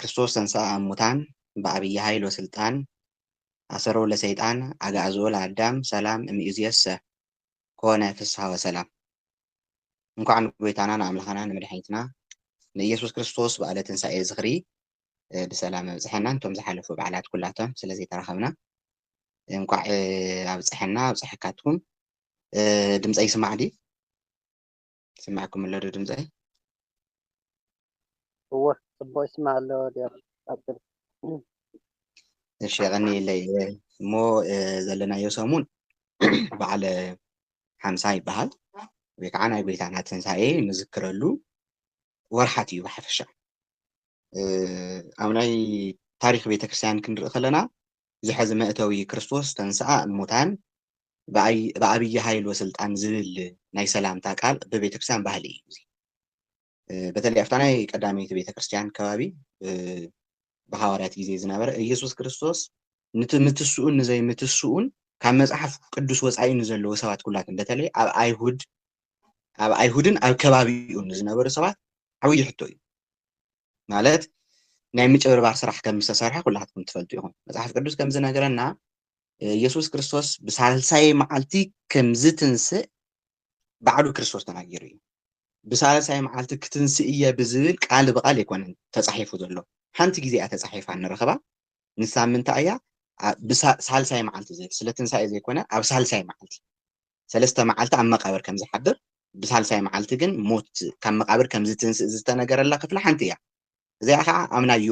ክርስቶስ ተንሥኣ እሙታን በዐቢይ ኃይል ወሥልጣን አሰሮ ለሰይጣን አግዓዞ ለአዳም ሰላም እምይእዜሰ ኮነ ፍሥሓ ወሰላም እንኳዕ ንጎይታና ንኣምላኻና ንመድኃኒትና ንኢየሱስ ክርስቶስ በዓለ ትንሣኤ ዝኽሪ ብሰላም ኣብጽሐና እንቶም ዝሓለፉ በዓላት ኩላቶም ስለ ዘይተራኸብና እንኳዕ ኣብጽሐና ኣብጽሐካትኩም ድምፀ ይስማዕ ዲ ይስማዕኩም ኣሎ ዶ ድምጸይ? እወ ጽቡቅ ይስማዕ ኣሎ ዲያቆን ቀጽል። እሺ የቐንየለይ እሞ ዘለናዮ ሰሙን በዓለ ሓምሳ ይበሃል ወይ ከዓ ናይ ጎይታና ትንሳኤ ንዝክረሉ ወርሓት እዩ ብሓፈሻ ኣብ ናይ ታሪክ ቤተክርስትያን ክንርኢ ከለና እዚ ሐዚ መእተዊ ክርስቶስ ተንሥኣ እሙታን በዐቢይ ኃይል ወሥልጣን ዝብል ናይ ሰላምታ ቃል እብ ቤተክርስቲያን ባህሊ እዩ እዚ በተለይ ኣብታ ናይ ቀዳመይቲ ቤተክርስቲያን ከባቢ ብሓዋርያት ጊዜ ዝነበረ ኢየሱስ ክርስቶስ ንቲ ምትስኡን ንዘይ ምትስኡን ካብ መጽሓፍ ቅዱስ ወጻኢ ንዘለዎ ሰባት ኩላትን በተለይ ኣብ ኣይሁድ ኣብ ኣይሁድን ኣብ ከባቢኡን ንዝነበሩ ሰባት ዓብይ ሕቶ እዩ ማለት ናይ ምጭብርባር ስራሕ ከም ዝተሰርሐ ኩላትኩም ትፈልጡ ኢኹም መጽሓፍ ቅዱስ ከም ዝነገረና ኢየሱስ ክርስቶስ ብሳልሳይ መዓልቲ ከም ዝትንስእ ባዕሉ ክርስቶስ ተናጊሩ እዩ ብሳልሳይ መዓልቲ ክትንስእ እየ ብዝብል ቃል ብቓል ኣይኮነን ተጻሒፉ ዘሎ ሓንቲ ግዜ እያ ተጻሒፋ ንረኽባ ንሳ ምንታይ እያ ሳልሳይ መዓልቲ ስለ ትንሳኤ ዘይኮነ ኣብ ሳልሳይ መዓልቲ ሰለስተ መዓልቲ ኣብ መቓብር ከም ዝሓድር፣ ብሳልሳይ መዓልቲ ግን ሞት ካብ መቓብር ከም ዝትንስእ ዝተነገረላ ክፍሊ ሓንቲ እያ። እዚኣ ኸኣ ኣብ ናይ ዮ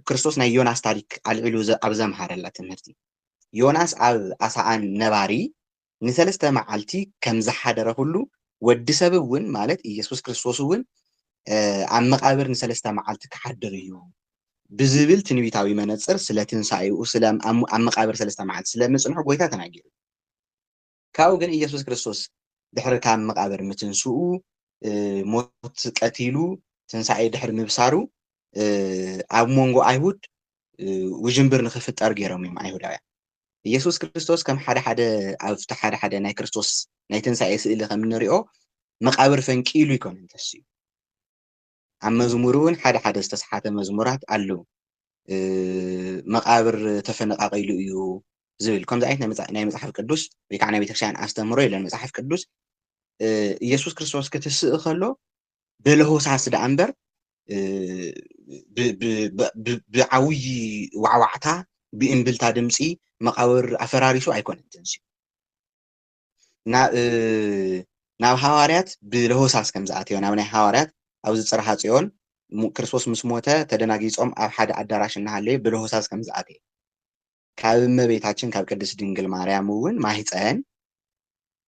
ክርስቶስ ናይ ዮናስ ታሪክ ኣልዒሉ ዘ ኣብ ዘምሃረላ ትምህርቲ ዮናስ ኣብ ኣሳኣን ነባሪ ንሰለስተ መዓልቲ ከም ዝሓደረ ኹሉ ወዲ ሰብ እውን ማለት ኢየሱስ ክርስቶስ እውን ኣብ መቓብር ንሰለስተ መዓልቲ ክሓድር እዩ ብዝብል ትንቢታዊ መነጽር ስለ ትንሳኤኡ ስለ ኣብ ኣብ መቓብር ሰለስተ መዓልቲ ስለ ምጽንሑ ጐይታ ተናጊሩ እዩ። ካብኡ ግን ኢየሱስ ክርስቶስ ድሕሪ ካብ መቓብር ምትንስኡ ሞት ቀቲሉ ትንሳኤ ድሕሪ ምብሳሩ ኣብ መንጎ ኣይሁድ ውዥንብር ንክፍጠር ገይሮም እዮም ኣይሁዳውያን ኢየሱስ ክርስቶስ ከም ሓደ ሓደ ኣብቲ ሓደ ሓደ ናይ ክርስቶስ ናይ ትንሳኤ ስእሊ ከም እንሪኦ መቃብር ፈንቂሉ ይኮነ እንተስዩ ኣብ መዝሙር እውን ሓደ ሓደ ዝተስሓተ መዝሙራት ኣሎ መቃብር ተፈነቃቂሉ እዩ ዝብል ከምዚ ዓይነት ናይ መፅሓፍ ቅዱስ ወይ ከዓ ናይ ቤተክርስትያን ኣስተምህሮ የለን መፅሓፍ ቅዱስ ኢየሱስ ክርስቶስ ክትስእ ከሎ በለሆሳስ ደኣ እምበር ብዓብዪ ዋዕዋዕታ ብእምብልታ ድምፂ መቃብር ኣፈራሪሱ ኣይኮነን ተንስኡ ናብ ሃዋርያት ብለሆሳስ ከም ዝኣተዮ ናብ ናይ ሃዋርያት ኣብዚ ጽርሃ ጽዮን ክርስቶስ ምስ ሞተ ተደናጊጾም ኣብ ሓደ ኣዳራሽ እናሃለዩ ብለሆሳስ ከም ዝኣተየ ካብ እመቤታችን ካብ ቅድስት ድንግል ማርያም እውን ማህፀን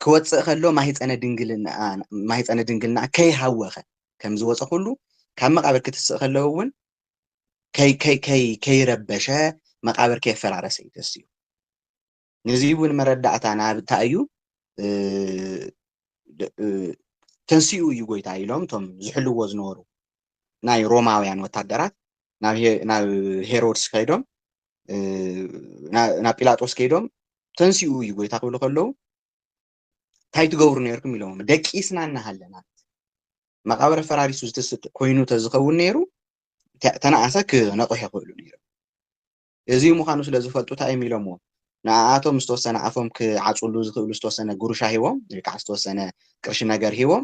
ክወፅእ ከሎ ማህፀነ ድንግልና ከይሃወኸ ከም ዝወፀ ኩሉ ካብ መቃብር ክትስእ ከለው እውን ከይረበሸ መቃብር ከየፈራረሰ እዩ ተስዩ ነዙይ እውን መረዳእታ ናብ እታይ እዩ ተንስኡ እዩ ጎይታ ኢሎም እቶም ዝሕልዎ ዝነበሩ ናይ ሮማውያን ወታደራት ናብ ሄሮድስ ከይዶም ናብ ጲላጦስ ከይዶም ተንስኡ እዩ ጎይታ ክብሉ ከለዉ እንታይ ትገብሩ ነርኩም ኢሎም ደቂ ስና እናሃለና መቃብረ ፈራሪሱ ዝትስጥ ኮይኑ ተዝኸውን ነይሩ ተነኣሰ ክነቑሕ ይኽእሉ ነይሩ እዚ ምዃኑ ስለ ዝፈልጡ ታይ እዮም ኢሎምዎ? ንኣኣቶም ዝተወሰነ ኣፎም ክዓጽውሉ ዝኽእሉ ዝተወሰነ ጉርሻ ሂቦም ወይ ከዓ ዝተወሰነ ቅርሺ ነገር ሂቦም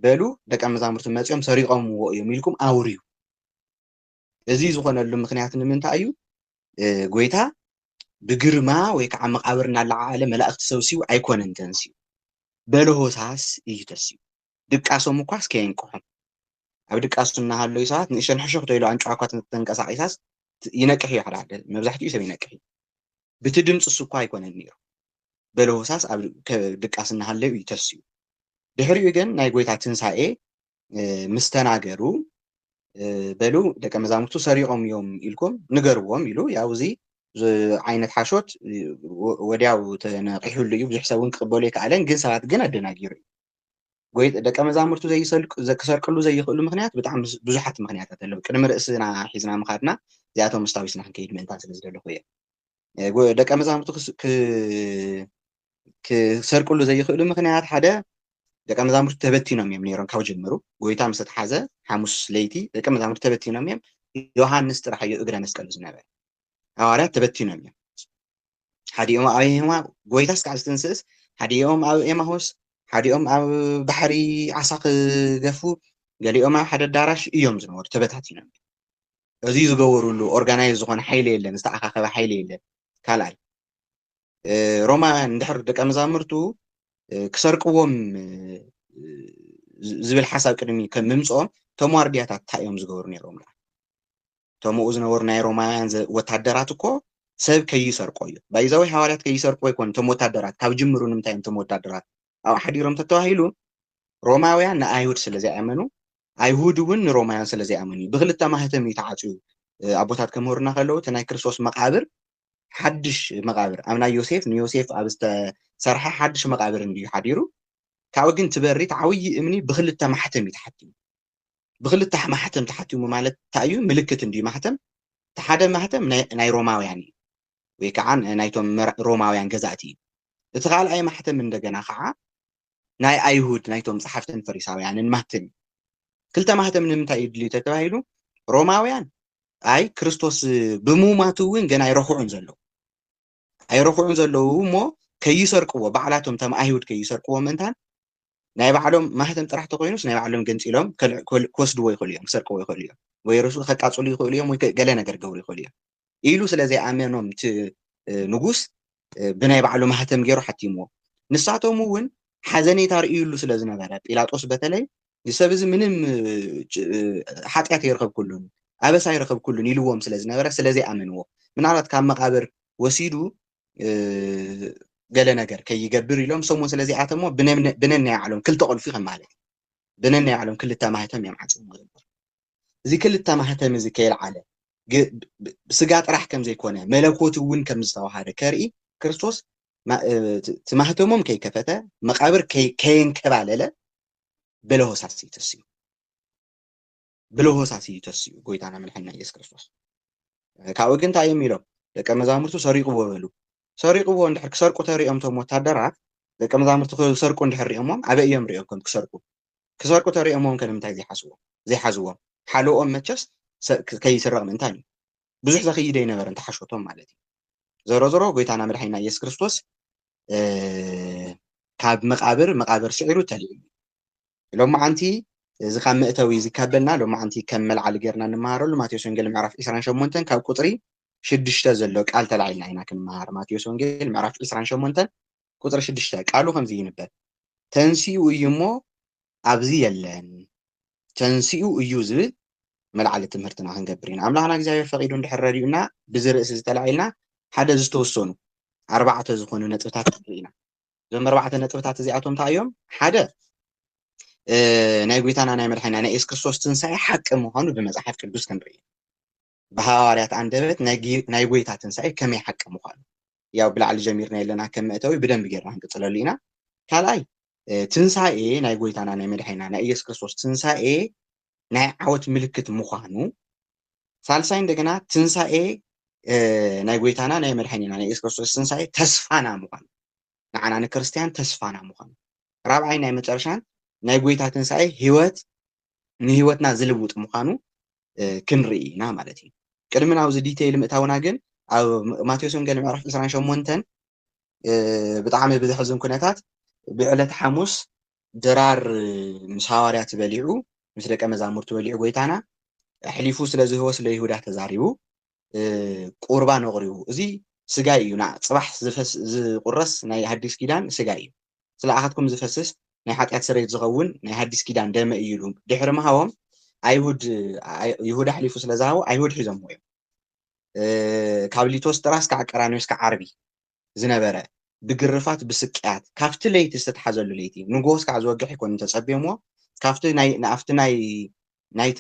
በሉ ደቀ መዛሙርቲ መጺኦም ሰሪቖምዎ እዮም ኢልኩም ኣውርዩ። እዚ ዝኾነሉ ምኽንያት ንምንታይ እዩ? ጎይታ ብግርማ ወይ ከዓ መቓብር እናለዓዓለ መላእኽቲ ሰብሲቡ ኣይኮነን ተንሲኡ። በለሆሳስ እዩ ተሲኡ። ድቃሶም እኳስ ከየንቅሖም። ኣብ ድቃሱ እናሃለዩ ሰባት ንእሽተን ሕሹኽቶ ኢሉ ኣንጭዋ እኳ ተንቀሳቒሳስ ይነቅሕ እዩ ሓደ ሓደ መብዛሕትኡ ሰብ ይነቅሕ እዩ። ብቲ ድምፅሱ እኳ ኣይኮነን ነይሩ በለሆሳስ ኣብ ድቃስ እናሃለዩ እዩ ተስኡ። ድሕሪኡ ግን ናይ ጎይታ ትንሳኤ ምስ ተናገሩ በሉ ደቀ መዛሙርቱ ሰሪቖም እዮም ኢልኩም ንገርዎም ኢሉ ያው እዚ ዓይነት ሓሾት ወዲያው ተነቂሑሉ እዩ ብዙሕ ሰብ እውን ክቕበሉ ኣይከኣለን ግን ሰባት ግን ኣደናጊሩ እዩ ጎይጥ ደቀ መዛሙርቱ ዘይሰልቁ ክሰርቅሉ ዘይኽእሉ ምክንያት ብጣዕሚ ብዙሓት ምክንያታት ኣለዉ ቅድሚ ርእስና ሒዝና ምኻድና እዚኣቶም ስታዊስና ክንከይድ ምእንታን ስለ ዝደለኹ እየ ደቀ መዛሙርቱ ክሰርቅሉ ዘይኽእሉ ምክንያት ሓደ ደቀ መዛሙርቱ ተበቲኖም እዮም ነይሮም ካብ ጀምሩ ጎይታ ምስ ተሓዘ ሓሙስ ለይቲ ደቀ መዛሙርቱ ተበቲኖም እዮም ዮሃንስ ጥራሕ እዩ እግረ መስቀሉ ዝነበረ ሃዋርያት ተበቲኖም እዮም ሓዲኦም ኣብ ኤማ ጎይታስ ካብ ዝትንስእስ ሓዲኦም ኣብ ኤማሆስ ሓዲኦም ኣብ ባሕሪ ዓሳ ክገፉ ገሊኦም ኣብ ሓደ ኣዳራሽ እዮም ዝነበሩ ተበታቲኖም እዚ ዝገበሩሉ ኦርጋናይዝ ዝኾነ ሓይሊ የለን ዝተኣኻኸበ ሓይሊ የለን ካልኣይ ሮማ ንድሕር ደቀ መዛሙርቱ ክሰርቅዎም ዝብል ሓሳብ ቅድሚ ከም ምምፅኦም እቶም ዋርድያታት እንታይ እዮም ዝገብሩ ነይሮም እቶምኡ ዝነበሩ ናይ ሮማውያን ዘ ወታደራት እኮ ሰብ ከይሰርቆ እዩ ባይ ዘ ወይ ሃዋርያት ከይሰርቁ ኣይኮን እቶም ወታደራት ካብ ጅምሩ ንምንታይ እዮም እቶም ወታደራት ኣብኡ ሓዲሮም ተተባሂሉ ሮማውያን ንኣይሁድ ስለ ዘይኣመኑ ኣይሁድ እውን ንሮማውያን ስለ ዘይኣመኑ እዩ ብክልተ ማህተም እዩ ተዓፅዩ ኣቦታት ከምህሩና ከለዉ እቲ ናይ ክርስቶስ መቃብር ሓድሽ መቃብር ኣብ ናይ ዮሴፍ ንዮሴፍ ኣብ ዝተሰርሐ ሓድሽ መቃብር እንድዩ ሓዲሩ ካብኡ ግን ትበሪ ተዓብዪ እምኒ ብክልተ ማሕተም እዩ ተሓቲሙ ብክልተ ማሕተም ተሓቲሙ ማለት እንታይ እዩ ምልክት እንድዩ ማሕተም እቲ ሓደ ማሕተም ናይ ሮማውያን እዩ ወይ ከዓ ናይቶም ሮማውያን ገዛእቲ እዩ እቲ ካልኣይ ማሕተም እንደገና ከዓ ናይ ኣይሁድ ናይቶም ፀሓፍትን ፈሪሳውያንን ማህተም እዩ ክልተ ማህተም ንምንታይ እዩ ድልዩ ተተባሂሉ ሮማውያን ኣይ ክርስቶስ ብሙማቱ እውን ገና ይረክዑን ዘለዉ ኣይረኹዑን ዘለዉ እሞ ከይሰርቅዎ ባዕላቶም ተም ኣይሁድ ከይሰርቅዎ ምእንታን ናይ ባዕሎም ማህተም ጥራሕ ተኮይኑስ ናይ ባዕሎም ገንፂሎም ክወስድዎ ይኽእሉ እዮም ክሰርቅዎ ይኽእሉ እዮም ወይ ርሱ ከቃፅሉ ይኽእሉ እዮም ወይ ገለ ነገር ገብሩ ይኽእሉ እዮም ኢሉ ስለ ዘይኣመኖም እቲ ንጉስ ብናይ ባዕሉ ማህተም ገይሩ ሓቲምዎ ንሳቶም እውን ሓዘኔታ ርእዩሉ ስለ ዝነበረ ጲላጦስ በተለይ ንሰብ እዚ ምንም ሓጢኣት ኣይረኸብኩሉን ኣበሳ ኣይረኸብኩሉን ኢልዎም ስለ ዝነበረ ስለ ዘይኣመንዎ ምናልባት ካብ መቓብር ወሲዱ ገለ ነገር ከይገብር ኢሎም ሰሙን ስለ ዘይኣተሞ ብነናይ ባዕሎም ክልተ ቁልፊ ከም ማለት እዩ ብነናይ ባዕሎም ክልተ ማህተም እዮም ዓፅሞ ዝነበሩ እዚ ክልተ ማህተም እዚ ከየልዓለ ስጋ ጥራሕ ከም ዘይኮነ መለኮት እውን ከም ዝተዋሃደ ከርኢ ክርስቶስ ትማህተሞም ከይከፈተ መቃብር ከየንከባለለ ብለሆሳስ እዩ ተሲኡ ብለሆሳስ እዩ ተሲኡ ጎይታና መድሓኒና ኢየሱስ ክርስቶስ ካብኡ ግን እንታይ እዮም ኢሎም ደቀ መዛሙርቱ ሰሪቕዎ በሉ ሰሪቕዎ እንድሕር ክሰርቁ ተሪኦም እቶም ወታደራት ደቀ መዛሙርቱ ክሰርቁ እንድሕር ሪኦሞም ኣበይ እዮም ሪኦም ከም ክሰርቁ ክሰርቁ ተሪኦሞም ከ ንምንታይ ዘይሓስዎም ዘይሓዝዎም ሓልኦም መቸስ ከይስረቕ ምእንታን እዩ ብዙሕ ዘኽይድ ኣይነበረን ተሓሾቶም ማለት እዩ ዘሮ ዘሮ ጎይታና መድሓኒና ኢየሱስ ክርስቶስ ካብ መቃብር መቃብር ስዒሩ ተልዩ ሎሚ ዓንቲ እዚ ካብ መእተዊ እዚ ካበልና ሎሚ ዓንቲ ከም መልዓሊ ጌርና ንመሃረሉ ማቴዎስ ወንጌል ምዕራፍ 28 ካብ ቁፅሪ ሽዱሽተ ዘሎ ቃል ተላዒልና ኢና ክንመሃር ማቴዎስ ወንጌል ምዕራፍ 28 ቁፅሪ ሽዱሽተ ቃሉ ከምዚ ይንበብ ተንስኡ እዩ እሞ ኣብዚ የለን ተንሲኡ እዩ ዝብል መልዓሊ ትምህርትና ክንገብር ኢና። ኣምላኽና እግዚኣብሔር ፈቒዱ እንድሕር ረዲኡና ብዚ ርእሲ እዚ ተላዒልና ሓደ ዝተወሰኑ ኣርባዕተ ዝኾኑ ነጥብታት ክንርኢ ኢና። እዞም ኣርባዕተ ነጥብታት እዚኣቶም እንታይ እዮም? ሓደ ናይ ጎይታና ናይ መድሓኒና ናይ የሱስ ክርስቶስ ትንሳኤ ሓቂ ምዃኑ ብመጽሓፍ ቅዱስ ክንርኢ ብሃዋርያት ኣንደበት ናይ ጎይታ ትንሳኤ ከመይ ሓቂ ምዃኑ ያው ብላዕሊ ጀሚርናዮ ኣለና ከም መእተዊ ብደንቢ ጌርና ክንቅጽለሉ ኢና ካልኣይ ትንሳኤ ናይ ጎይታና ናይ መድሓኒና ናይ ኢየሱስ ክርስቶስ ትንሳኤ ናይ ዓወት ምልክት ምዃኑ ሳልሳይ እንደገና ትንሳኤ ናይ ጎይታና ናይ መድሓኒና ናይ ኢየሱስ ክርስቶስ ትንሳኤ ተስፋና ምዃኑ ንዓና ንክርስትያን ተስፋና ምዃኑ ራብዓይ ናይ መጨረሻን ናይ ጎይታ ትንሳኤ ህይወት ንህይወትና ዝልውጥ ምዃኑ ክንርኢ ኢና ማለት እዩ። ቅድሚ ናብዚ ዲተይል ምእታውና ግን ኣብ ማቴዎስ ወንጌል ምዕራፍ ዕስራን ሸሞንተን ብጣዕሚ ብዘሕዝን ኩነታት ብዕለት ሓሙስ ድራር ምስ ሃዋርያት በሊዑ ምስ ደቀ መዛሙርቱ በሊዑ ጎይታና ኣሕሊፉ ስለ ዝህቦ ስለ ይሁዳ ተዛሪቡ ቁርባን ኣቕሪቡ እዚ ስጋይ እዩ ን ጽባሕ ዝቁረስ ናይ ሃዲስ ኪዳን ስጋይ እዩ ስለኣኻትኩም ዝፈስስ ናይ ሓጢኣት ስርየት ዝኸውን ናይ ሃዲስ ኪዳን ደመይ እዩ ኢሉ ድሕሪ ምሃቦም ኣይሁድ ይሁዳ ኣሕሊፉ ስለዝሃቦ ኣይሁድ ሒዞምዎ እዮም ካብ ሊቶስትራስ ክዓ ቀራንዮስ ክዓ ዓርቢ ዝነበረ ብግርፋት ብስቅያት ካብቲ ለይቲ ዝተትሓዘሉ ለይቲ ንግሆ እስካዕ ዝወግሕ ኣይኮነን ተጸብዮምዎ ካብቲ ናይ ንኣፍቲ ናይ ናይቲ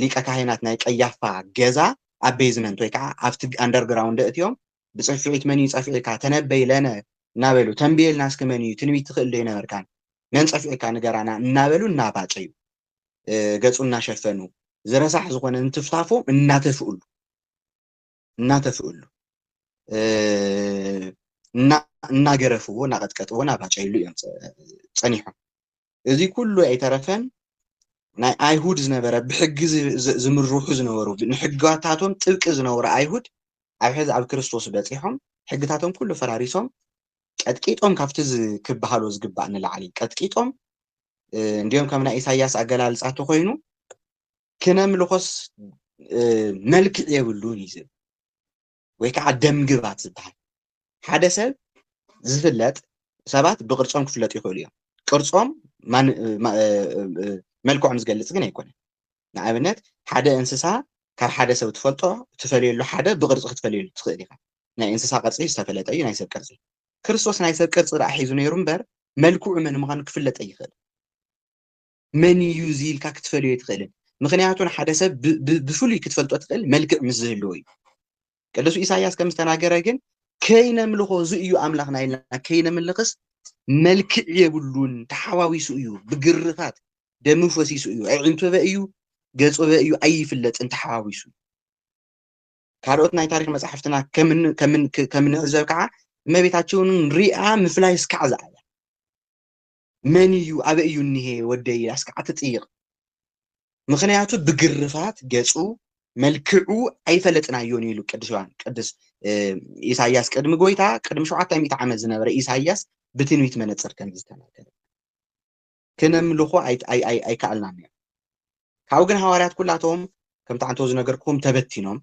ሊቀ ካህናት ናይ ቀያፋ ገዛ ኣብ ቤዝመንት ወይ ከኣ ኣብቲ ኣንደር ግራውንድ ኣእትዮም ብጽፍዒት መን እዩ ጸፊዒካ ተነበይ ለነ እናበሉ ተንብየልና እስኪ መን እዩ ትንቢት ትኽእል ዶ ይነበርካን መን ጸፊዒካ ንገራና እናበሉ እናባጨዩ ገጹ እናሸፈኑ ዝረሳሕ ዝኾነ እንትፍታፎ እናተፍእሉ እናተፍእሉ እናገረፍዎ እናቐጥቀጥዎ እናባጨይሉ እዮም ፀኒሖም እዚ ኩሉ ኣይተረፈን ናይ ኣይሁድ ዝነበረ ብሕጊ ዝምርሑ ዝነበሩ ንሕጋታቶም ጥብቂ ዝነበሩ ኣይሁድ ኣብ ሕዚ ኣብ ክርስቶስ በፂሖም ሕግታቶም ኩሉ ፈራሪሶም ቀጥቂጦም ካብቲ ክበሃሎ ዝግባእ ንላዕሊ ቀጥቂጦም እንዲኦም ከም ናይ ኢሳያስ ኣገላልፃ ተኮይኑ ክነምልኾስ መልክዕ የብሉን እዩ ዝብል ወይ ከዓ ደምግባት ዝበሃል ሓደ ሰብ ዝፍለጥ ሰባት ብቅርፆም ክፍለጡ ይኽእሉ እዮም ቅርፆም መልክዖም ዝገልፅ ግን ኣይኮነን ንኣብነት ሓደ እንስሳ ካብ ሓደ ሰብ ትፈልጦ ትፈልየሉ ሓደ ብቅርፂ ክትፈልየሉ ትኽእል ኢኻ ናይ እንስሳ ቅርፂ ዝተፈለጠ እዩ ናይ ሰብ ቅርፂ ክርስቶስ ናይ ሰብ ቅርፂ ዳኣ ሒዙ ነይሩ እምበር መልክዑ መን ምዃኑ ክፍለጥ ኣይኽእል መን እዩ እዚ ኢልካ ክትፈልዮ ኣይትኽእልን። ምኽንያቱ ንሓደ ሰብ ብፍሉይ ክትፈልጦ ትኽእል መልክዕ ምስ ዝህልዎ እዩ። ቅዱስ ኢሳይያስ ከም ዝተናገረ ግን ከይነምልኾ እዚ እዩ ኣምላኽና ኢልና ከይነምልኽስ መልክዕ የብሉን፣ ተሓዋዊሱ እዩ፣ ብግርፋት ደሙ ፈሲሱ እዩ፣ ኣዒንቶበ እዩ፣ ገጾበ እዩ ኣይፍለጥን ተሓዋዊሱ። ካልኦት ናይ ታሪክ መጻሕፍትና ከምንዕዘብ ከዓ እመቤታቸውን ሪኣ ምፍላይ እስካዕ ዝኣያ መን እዩ ኣበይ እዩ እኒሄ ወደይ ኢላስ ከዓ ትጥይቕ ምኽንያቱ ብግርፋት ገፁ መልክዑ ኣይፈለጥናዮን እዩ ኢሉ ቅዱስ ዮሐን ቅዱስ እ፣ ኢሳይያስ ቅድሚ ጎይታ ቅድሚ ሸውዓተ ሚእቲ ዓመት ዝነበረ ኢሳይያስ ብትንቢት መነፅር ከም ዝተናገረ ክነምልኾ ኣይ- ኣይ- ኣይ- ኣይከኣልናን እዩ ካብኡ ግን ሃዋርያት ኩላቶም ከምቲ ዓንተው ዝነገርኩም ተበቲኖም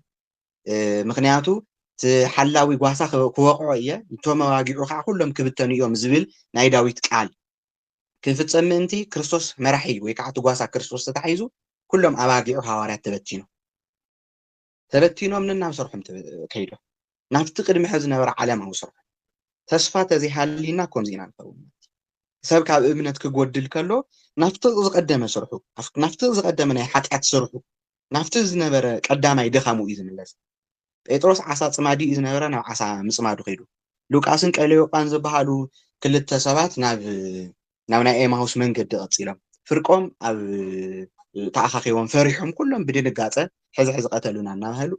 ምክንያቱ እቲ ሓላዊ ጓሳ ክወቕዖ እየ እቶም ኣዋጊዑ ከዓ ኩሎም ክብተኑ እዮም ዝብል ናይ ዳዊት ቃል ክፍፀም ምእንቲ ክርስቶስ መራሒ ወይ ከዓ እቲ ጓሳ ክርስቶስ ተታሒዙ ኩሎም ኣባጊዑ ሃዋርያት ተበቲኖም ተበቲኖም ንናብ ሰርሖም ከይዶም ናብቲ ቅድሚ ሕዚ ዝነበረ ዓለማዊ ስርሖ ተስፋ ተዘይሃልዩና ከምዚ ኢና ንኸውን ሰብ ካብ እምነት ክጎድል ከሎ ናብቲ ዝቀደመ ስርሑ ናብቲ ዝቀደመ ናይ ሓጢኣት ስርሑ ናብቲ ዝነበረ ቀዳማይ ድኻሙ እዩ ዝምለስ። ጴጥሮስ ዓሳ ጽማዲ እዩ ዝነበረ ናብ ዓሳ ምጽማዱ ከይዱ። ሉቃስን ቀለዮጳን ዝበሃሉ ክልተ ሰባት ናብ ናብ ናይ ኤማሁስ መንገዲ ቀጺሎም። ፍርቆም ኣብ ተኣኻኺቦም ፈሪሖም ኩሎም ብድንጋጸ ሕዚ ሕዚ ቀተሉና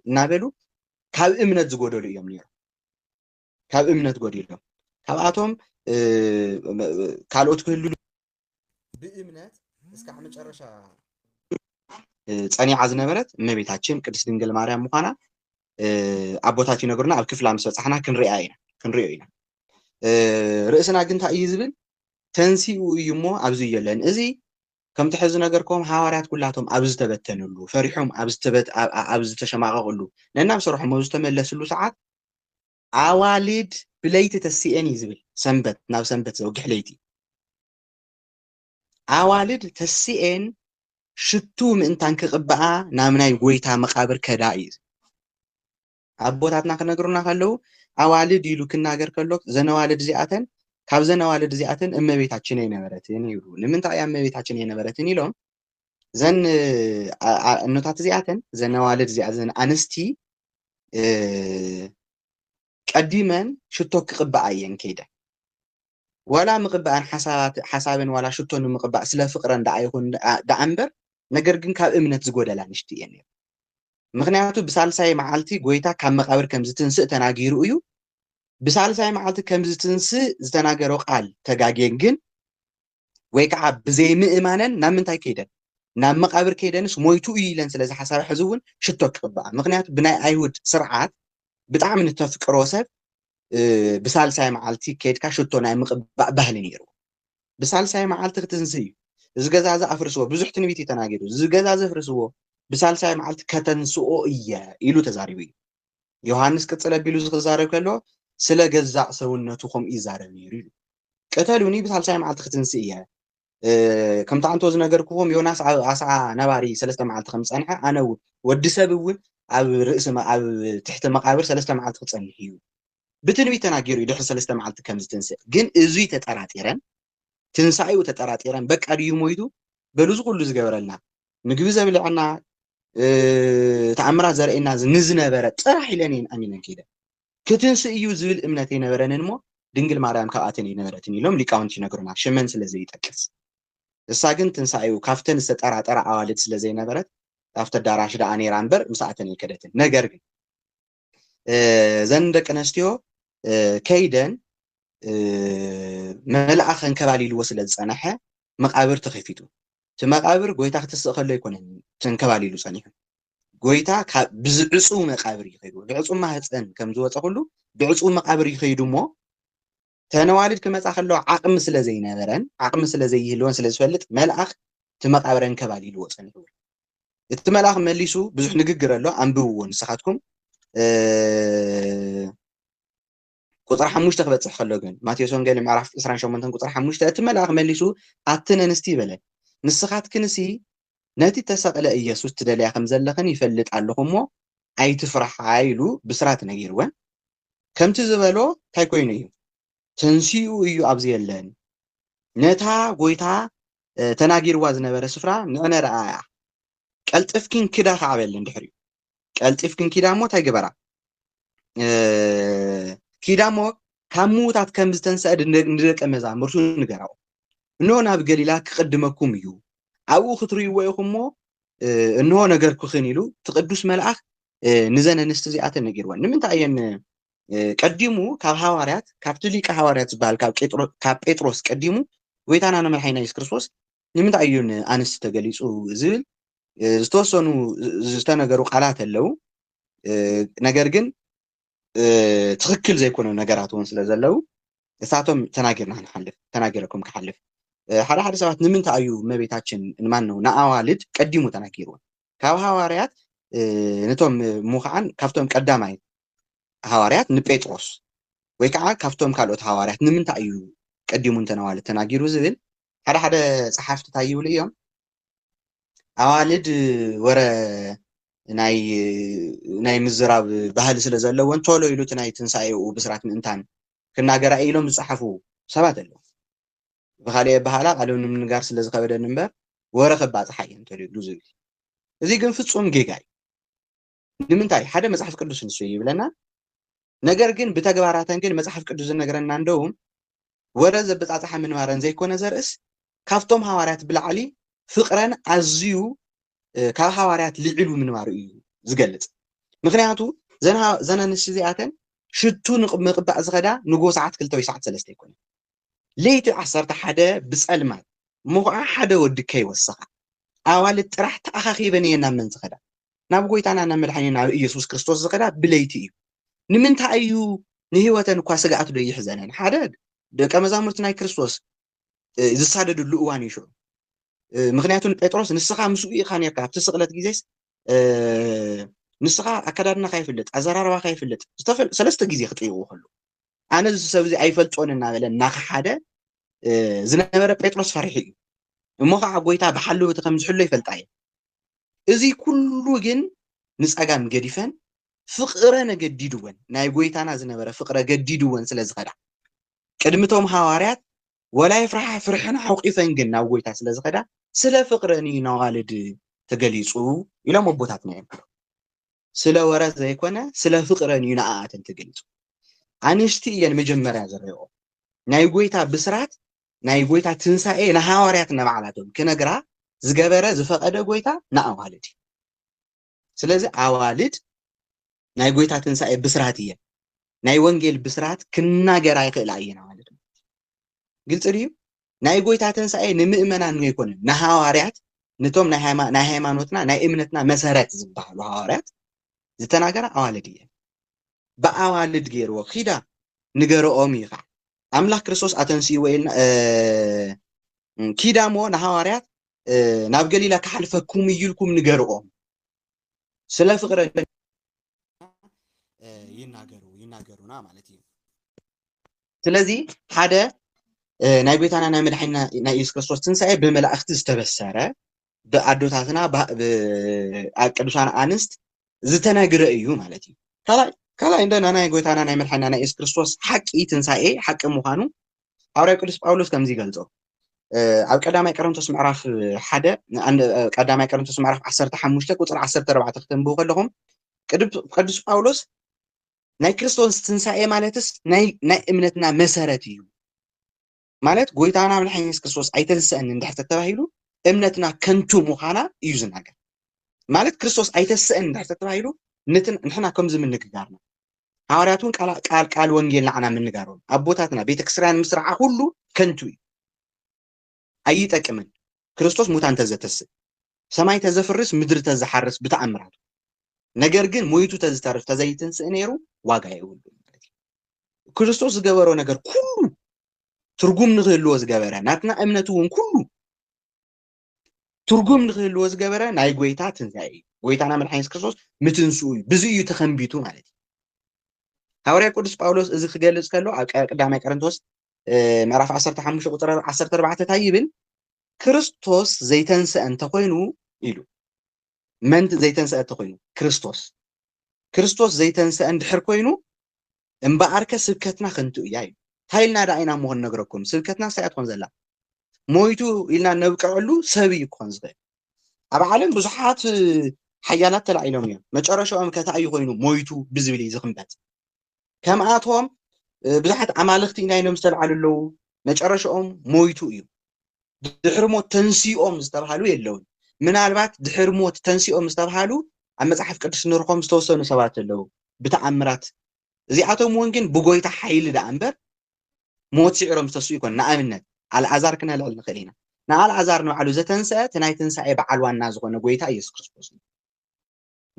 እናበሉ ካብ እምነት ዝጎደሉ እዮም ነይሮም። ካብ እምነት ጎዲሎም ካብኣቶም ካልኦት ክህሉ ብእምነት እስካዕ መጨረሻ ፀኒዓ ዝነበረት እመቤታችን ቅድስት ድንግል ማርያም ምኳና ኣቦታት ይነግሩና ኣብ ክፍላ ምስ በፃሕና ክንሪኣ ኢና ክንሪኦ ኢና ርእስና ግን እንታይ እዩ ዝብል ተንሲኡ እዩ እሞ ኣብዚ የለን እዚ ከምቲ ሕዚ ነገርኩም ሃዋርያት ኩላቶም ኣብ ዝተበተንሉ ፈሪሖም ኣብ ዝተሸማቐቕሉ ነናብ ስርሖም ኣብ ዝተመለስሉ ሰዓት ኣዋልድ ብለይቲ ተሲኤን እዩ ዝብል ሰንበት ናብ ሰንበት ዘውግሕ ለይቲ ኣዋልድ ተሲኤን ሽቱ ምእንታን ክቕብኣ ናብ ናይ ጎይታ መቓብር ከዳ እዩ ኣቦታትና ክነግሩና ከለዉ ኣዋልድ ኢሉ ክናገር ከሎ ዘነዋልድ እዚኣተን ካብ ዘነዋልድ እዚኣተን እመቤታችን ኣይነበረትን ይብሉ ንምንታይ እያ እመቤታችን ኣይነበረትን ኢሎም እዘን እኖታት እዚኣተን እዘን ኣዋልድ እዚኣ እዘን ኣንስቲ ቀዲመን ሽቶ ክቕብኣ እየን ከይደን ዋላ ምቕባእን ሓሳብን ዋላ ሽቶ ንምቕባእ ስለ ፍቕረን ደኣ ይኹን ደኣ እምበር ነገር ግን ካብ እምነት ዝጎደላ ንሽቲ እየን ነይሩ ምክንያቱ ብሳልሳይ መዓልቲ ጎይታ ካብ መቃብር ከም ዝትንስእ ተናጊሩ እዩ ብሳልሳይ መዓልቲ ከም ዝትንስእ ዝተናገሮ ቃል ተጋጌን ግን ወይ ከዓ ብዘይምእማነን ናብ ምንታይ ከይደን ናብ መቃብር ከይደንስ ሞይቱ እዩ ኢለን ስለ ዝሓሳባ ሕዚ እውን ሽቶ ክቅብኣ ምክንያቱ ብናይ ኣይሁድ ስርዓት ብጣዕሚ ንተፍቅሮ ሰብ ብሳልሳይ መዓልቲ ከድካ ሽቶ ናይ ምቅባእ ባህሊ ነይሩ ብሳልሳይ መዓልቲ ክትንስ እዩ እዚ ገዛ እዚ ኣፍርስዎ ብዙሕ ትንቢት እዩ ተናጊሩ እዚ ገዛ እዚ ኣፍርስዎ ብሳልሳይ መዓልቲ ከተንስኦ እየ ኢሉ ተዛሪቡ እዩ ዮሃንስ ቅጽል ኣቢሉ እዚ ክዛረብ ከሎ ስለ ገዛእ ሰውነቱ ከምኡ ይዛረብ ነይሩ ኢሉ ቅተሉኒ ብሳልሳይ መዓልቲ ክትንስእ እየ ከምቲ ኣንቶ ዝነገርክዎም ዮናስ ኣብ ኣስዓ ነባሪ ሰለስተ መዓልቲ ከም ዝጸንሐ ኣነ ወዲ ሰብ እውን ኣብ ርእሲ ኣብ ትሕቲ መቃብር ሰለስተ መዓልቲ ክጸንሕ እዩ ብትንቢት ተናጊሩ እዩ ድሕሪ ሰለስተ መዓልቲ ከም ዝትንስእ ግን እዙይ ተጠራጢረን ትንሳኤኡ ተጠራጢረን በቃ ድዩ ሞይቱ በሉ ዝኩሉ ዝገበረልና ምግቢ ዘብልዐና ተኣምራት ዘርእየና ንዝነበረ ጥራሕ ኢለን እየን ኣሚነን ከይደን ክትንስእ እዩ ዝብል እምነት የነበረንን እሞ ድንግል ማርያም ካብኣተን የነበረትን ኢሎም ሊቃውንቲ ይነግሩና ሽመን ስለ ዘይጠቅስ እሳ ግን ትንሳኤኡ ካብተን ዝተጠራጠራ ኣዋልድ ስለ ዘይነበረት ኣብቲ ኣዳራሽ ደኣ ነይራ እምበር ምስኣተን ኣይከደትን ነገር ግን እዘን ደቂ ኣነስትዮ ከይደን መልኣኽ ከንከባሊልዎ ስለ ዝፀናሐ መቃብር ተኸፊቱ እቲ መቃብር ጎይታ ክትስእ ከሎ ኣይኮነን ተንከባሊሉ ፀኒሑ ጎይታ ብዝዕፁ መቃብር ይኸይዱ ብዕፁ ማህፀን ከም ዝወፀ ኩሉ ብዕፁ መቃብር ይኸይዱ እሞ ተነዋልድ ክመጻ ከለዋ ዓቕሚ ስለ ዘይነበረን ዓቕሚ ስለ ዘይህልወን ስለ ዝፈልጥ መልኣኽ እቲ መቓብር ኣንከባሊልዎ ጸኒሑ። እቲ መልኣኽ መሊሱ ብዙሕ ንግግር ኣሎ ኣንብብዎ ንስኻትኩም ቁጽሪ ሓሙሽተ ክበጽሕ ከሎ ግን ማቴዎስ ወንጌል ምዕራፍ 28 ቁጽሪ ሓሙሽተ እቲ መልኣኽ መሊሱ ኣትን ኣንስቲ ይበለን ንስኻትክንሲ ነቲ ተሰቕለ ኢየሱስ ትደልያ ከም ዘለኽን ይፈልጥ ኣለኹ እሞ ኣይትፍርሓ ኢሉ ብስራት ነጊርወን ከምቲ ዝበሎ ታይ ኮይኑ እዩ ተንሲኡ እዩ ኣብዚ የለን ነታ ጎይታ ተናጊርዋ ዝነበረ ስፍራ ንዕነ ረኣያ ቀልጥፍኪን ክዳ ከዓ በለን ድሕሪኡ ቀልጢፍክን ኪዳ እሞ ታይ ግበራ ኪዳ እሞ ካብ ምዉታት ከም ዝተንስአ ንደቂ መዛሙርቱ ንገራኦ እንሆ ናብ ገሊላ ክቕድመኩም እዩ ኣብኡ ክትርእይዎ ኢኹም እሞ እንሆ ነገርኩኽን ኢሉ እቲ ቅዱስ መልኣኽ ንዘን ኣንስቲ እዚኣተን ነጊርወን ንምንታይ እየን ቀዲሙ ካብ ሃዋርያት ካብቲ ሊቀ ሃዋርያት ዝበሃል ካብ ጴጥሮስ ቀዲሙ ጎይታና ንመድሓይና የሱስ ክርስቶስ ንምንታይ እዩ ንኣንስቲ ተገሊፁ ዝብል ዝተወሰኑ ዝተነገሩ ቃላት ኣለው ነገር ግን ትክክል ዘይኮነ ነገራት እውን ስለ ዘለው እሳቶም ተናጊርና ንሓልፍ ተናጊረኩም ክሓልፍ ሓደ ሓደ ሰባት ንምንታይ እዩ እመቤታችን ማን ነው ንኣዋልድ ቀዲሙ ተናጊርወን ካብ ሃዋርያት ንቶም ሙኻዓን ካብቶም ቀዳማይ ሃዋርያት ንጴጥሮስ ወይ ከዓ ካብቶም ካልኦት ሃዋርያት ንምንታይ እዩ ቀዲሙ እንተነዋልድ ተናጊሩ ዝብል ሓደ ሓደ ጸሓፍቲ እንታይ ይብሉ እዮም ኣዋልድ ወረ ናይ ናይ ምዝራብ ባህሊ ስለ ዘለወን ቶሎ ኢሉ እቲ ናይ ትንሳኤኡ ብስራት ምእንታን ክናገራ ኢሎም ዝጸሓፉ ሰባት ኣለዉ ብኻልእ ኣበሃህላ ቃሉ ንምንጋር ስለ ዝኸበደኒ እምበር ወረ ከባጽሓ እየ እንተልዩሉ ዝብል እዚ ግን ፍጹም ጌጋ እዩ። ንምንታይ ሓደ መጽሓፍ ቅዱስ ንሱ ይብለና ነገር ግን ብተግባራተን ግን መጽሓፍ ቅዱስ ዝነግረና እንደውም ወረ ዘበጻጽሓ ምንባረን ዘይኮነ ዘርእስ ካብቶም ሃዋርያት ብላዕሊ ፍቅረን ኣዝዩ ካብ ሃዋርያት ልዒሉ ምንባሩ እዩ ዝገልጽ ምክንያቱ ዘን ኣንስቲ እዚኣተን ሽቱ ምቅባእ ዝኸዳ ንጎ ሰዓት ክልተ ወይ ሰዓት ሰለስተ ይኮነ ለይቲ ዓሰርተ ሓደ ብጸልማት እሞ ኸኣ ሓደ ወዲ ከይወሰኻ ኣዋልድ ጥራሕ ተኣኻኺበን እየን ናብ መን ዝኸዳ? ናብ ጐይታና ናብ መድሓኒና ናብ ኢየሱስ ክርስቶስ ዝኸዳ ብለይቲ እዩ። ንምንታይ እዩ ንህይወተን እኳ ስግኣት ዶ ይሕዘነን? ሓደ ደቀ መዛሙርቲ ናይ ክርስቶስ ዝሳደድሉ እዋን እዩ ሽዑ። ምክንያቱ ንጴጥሮስ ንስኻ ምስኡ ኢኻ ነርካ ኣብቲ ስቕለት ግዜስ ንስኻ ኣከዳድናኻ ይፍለጥ ኣዘራርባኻ ይፍለጥ ሰለስተ ግዜ ክጥይቕዎ ከሎ ኣነ እዚ ሰብ እዚ ኣይፈልጦን እናበለ እናኸሓደ ዝነበረ ጴጥሮስ ፈሪሑ እዩ እሞ ከዓ ጎይታ ብሓልውቲ ከም ዝሕሎ ይፈልጣ እዩ እዚ ኩሉ ግን ንፀጋም ገዲፈን ፍቕረን ገዲድወን ናይ ጎይታና ዝነበረ ፍቕረ ገዲድወን ስለ ዝኸዳ ቅድሚቶም ሃዋርያት ወላ የፍርሓ ፍርሕን ሓውቂፈን ግን ናብ ጎይታ ስለ ዝኸዳ ስለ ፍቕረን እዩ ናዋልድ ተገሊፁ ኢሎም ኣቦታትና እዮም ስለ ወረት ዘይኮነ ስለ ፍቅረን እዩ ንኣኣተን ትገልጹ ኣንሽቲ እየን መጀመርያ ዝረኦ ናይ ጎይታ ብስራት ናይ ጎይታ ትንሳኤ ንሃዋርያት ነባዕላቶም ክነግራ ዝገበረ ዝፈቐደ ጎይታ ንኣዋልድ እዩ ስለዚ ኣዋልድ ናይ ጎይታ ትንሳኤ ብስራት እየን ናይ ወንጌል ብስራት ክናገራ ይኽእላ እየን ኣዋልድ ግልፂ ድዩ ናይ ጎይታ ተንሳኤ ንምእመናን ዘይኮነ ንሃዋርያት ንቶም ናይ ሃይማኖትና ናይ እምነትና መሰረት ዝበሃሉ ሃዋርያት ዝተናገራ ኣዋልድ እየን ብኣዋልድ ገይርዎ ኪዳ ንገረኦም እዩ ከዓ ኣምላክ ክርስቶስ ኣተንስእዎ ኢልና ኪዳ እሞ ንሃዋርያት ናብ ገሊላ ክሓልፈኩም እዩ ኢልኩም ንገርኦም ስለ ፍቅረ ይናገሩ ይናገሩና ማለት እዩ ስለዚ ሓደ ናይ ጎይታና ናይ መድሓኒና ናይ ኢየሱስ ክርስቶስ ትንሳኤ ብመላእክቲ ዝተበሰረ ብኣዶታትና ኣብ ቅዱሳን ኣንስት ዝተነግረ እዩ ማለት እዩ ካልኣይ ካልኣይ እንደና ናይ ጎይታና ናይ መድሓኒና ናይ ኢየሱስ ክርስቶስ ሓቂ ትንሳኤ ሓቂ ምዃኑ ሃዋርያ ቅዱስ ጳውሎስ ከምዚ ይገልጾ ኣብ ቀዳማይ ቀረንቶስ ምዕራፍ ሓደ ቀዳማይ ቀረንቶስ ምዕራፍ ዓሰርተ ሓሙሽተ ቁፅሪ ዓሰርተ ኣርባዕተ ክተንብቡ ከለኹም ቅዱስ ጳውሎስ ናይ ክርስቶስ ትንሳኤ ማለትስ ናይ እምነትና መሰረት እዩ ማለት ጎይታና ምድሓን የሱስ ክርስቶስ ኣይተንስአን እንድሕር ተተባሂሉ እምነትና ከንቱ ምዃና እዩ ዝናገር ማለት ክርስቶስ ኣይተስአን እንድሕር ተተባሂሉ ንሕና ከምዚ ምንግጋርና ሃዋርያት ውን ቃል ቃል ቃል ወንጌል ንዓና ምንጋሮም ኣቦታትና ቤተክስርያን ምስርዓ ኩሉ ከንቱ እዩ ኣይጠቅምን ክርስቶስ ሙታን ተዘተስእ ሰማይ ተዘፍርስ ምድሪ ተዝሓርስ ብተኣምራቱ ነገር ግን ሞይቱ ተዝተርፍ ተዘይትንስእ ነይሩ ዋጋ የብሉ ክርስቶስ ዝገበሮ ነገር ኩሉ ትርጉም ንክህልዎ ዝገበረ ናትና እምነት እውን ኩሉ ትርጉም ንክህልዎ ዝገበረ ናይ ጎይታ ትንሣኤ እዩ ጎይታና መድሓኒ የሱስ ክርስቶስ ምትንስኡ እዩ ብዙ እዩ ተኸንቢቱ ማለት እዩ ሃዋርያ ቅዱስ ጳውሎስ እዚ ክገልጽ ከሎ ኣብ ቀዳማይ ቀረንቶስ ምዕራፍ 15 ቁፅሪ 14 እንታይ ይብል ክርስቶስ ዘይተንስአ እንተኮይኑ ኢሉ መንት ዘይተንሰኣ እተኮይኑ ክርስቶስ ክርስቶስ ዘይተንሰኣ እንድሕር ኮይኑ እምበኣርከ ስብከትና ከንቱ እያ እዩ እንታይ ኢልና ደኣ ኢና እሞ ክንነግረኩም ስብከትና ሳያ ትኾን ዘላ ሞይቱ ኢልና ነብቅዐሉ ሰብ እዩ ክኾን ዝኽእል ኣብ ዓለም ብዙሓት ሓያላት ተላዒሎም እዮም መጨረሻኦም ከታ እዩ ኮይኑ ሞይቱ ብዝብል እዩ ዝኽንበት ከምኣቶም ብዙሓት ኣማልኽቲ ኢና ኢሎም ዝተልዓሉ ኣለዉ፣ መጨረሻኦም ሞይቱ እዩ። ድሕሪ ሞት ተንሲኦም ዝተብሃሉ የለውን። ምናልባት ድሕሪ ሞት ተንሲኦም ዝተብሃሉ ኣብ መጽሓፍ ቅዱስ ንርኾም ዝተወሰኑ ሰባት ኣለዉ፣ ብተኣምራት እዚኣቶም እውን ግን ብጎይታ ሓይሊ ደኣ እምበር ሞት ስዒሮም ዝተስኡ ይኮን። ንኣብነት ኣልኣዛር ክነልዕል ንኽእል ኢና። ንኣልኣዛር ንባዕሉ ዘተንስአ እቲ ናይ ትንሳኤ በዓል ዋና ዝኾነ ጎይታ ኢየሱስ ክርስቶስ እዩ።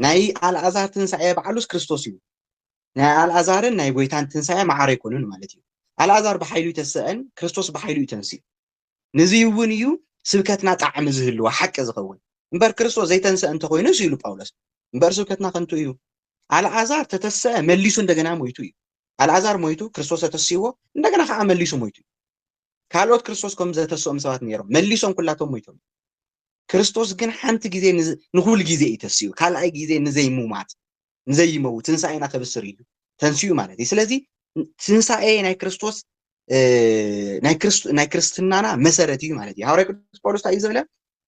ናይ ኣልኣዛር ትንሳኤ ባዕሉስ ክርስቶስ እዩ። ናይ ኣልኣዛርን ናይ ጎይታን ትንሳኤ ማዕረ ኣይኮኑን ማለት እዩ። ኣልኣዛር ብሓይሉ ይተስእን ክርስቶስ ብሓይሉ እዩ ተንስኡ። ንዙይ እውን እዩ ስብከትና ጣዕሚ ዝህልዎ ሓቂ ዝኸውን እምበር ክርስቶስ ዘይተንስአ እንተኮይኑስ ኢሉ ጳውሎስ እምበር ስብከትና ከንቱ እዩ። ኣልኣዛር ተተስአ መሊሱ እንደገና ሞይቱ እዩ። ኣልኣዛር ሞይቱ ክርስቶስ ተተሲዎ እንደገና ከዓ መሊሱ ሞይቱ እዩ። ካልኦት ክርስቶስ ከም ዘተስኦም ሰባት ነይሮም መሊሶም ኩላቶም ሞይቶም ክርስቶስ ግን ሓንቲ ግዜ ንኹል ግዜ እዩ ተሲኡ ካልኣይ ግዜ ንዘይሙማት ንዘይመው ትንሳኤና ከብስር እዩ ተንስኡ ማለት እዩ ስለዚ ትንሳኤ ናይ ክርስቶስ ናይ ክርስትናና መሰረት እዩ ማለት እዩ ሃዋርያ ቅዱስ ጳውሎስ እዩ ዝብለ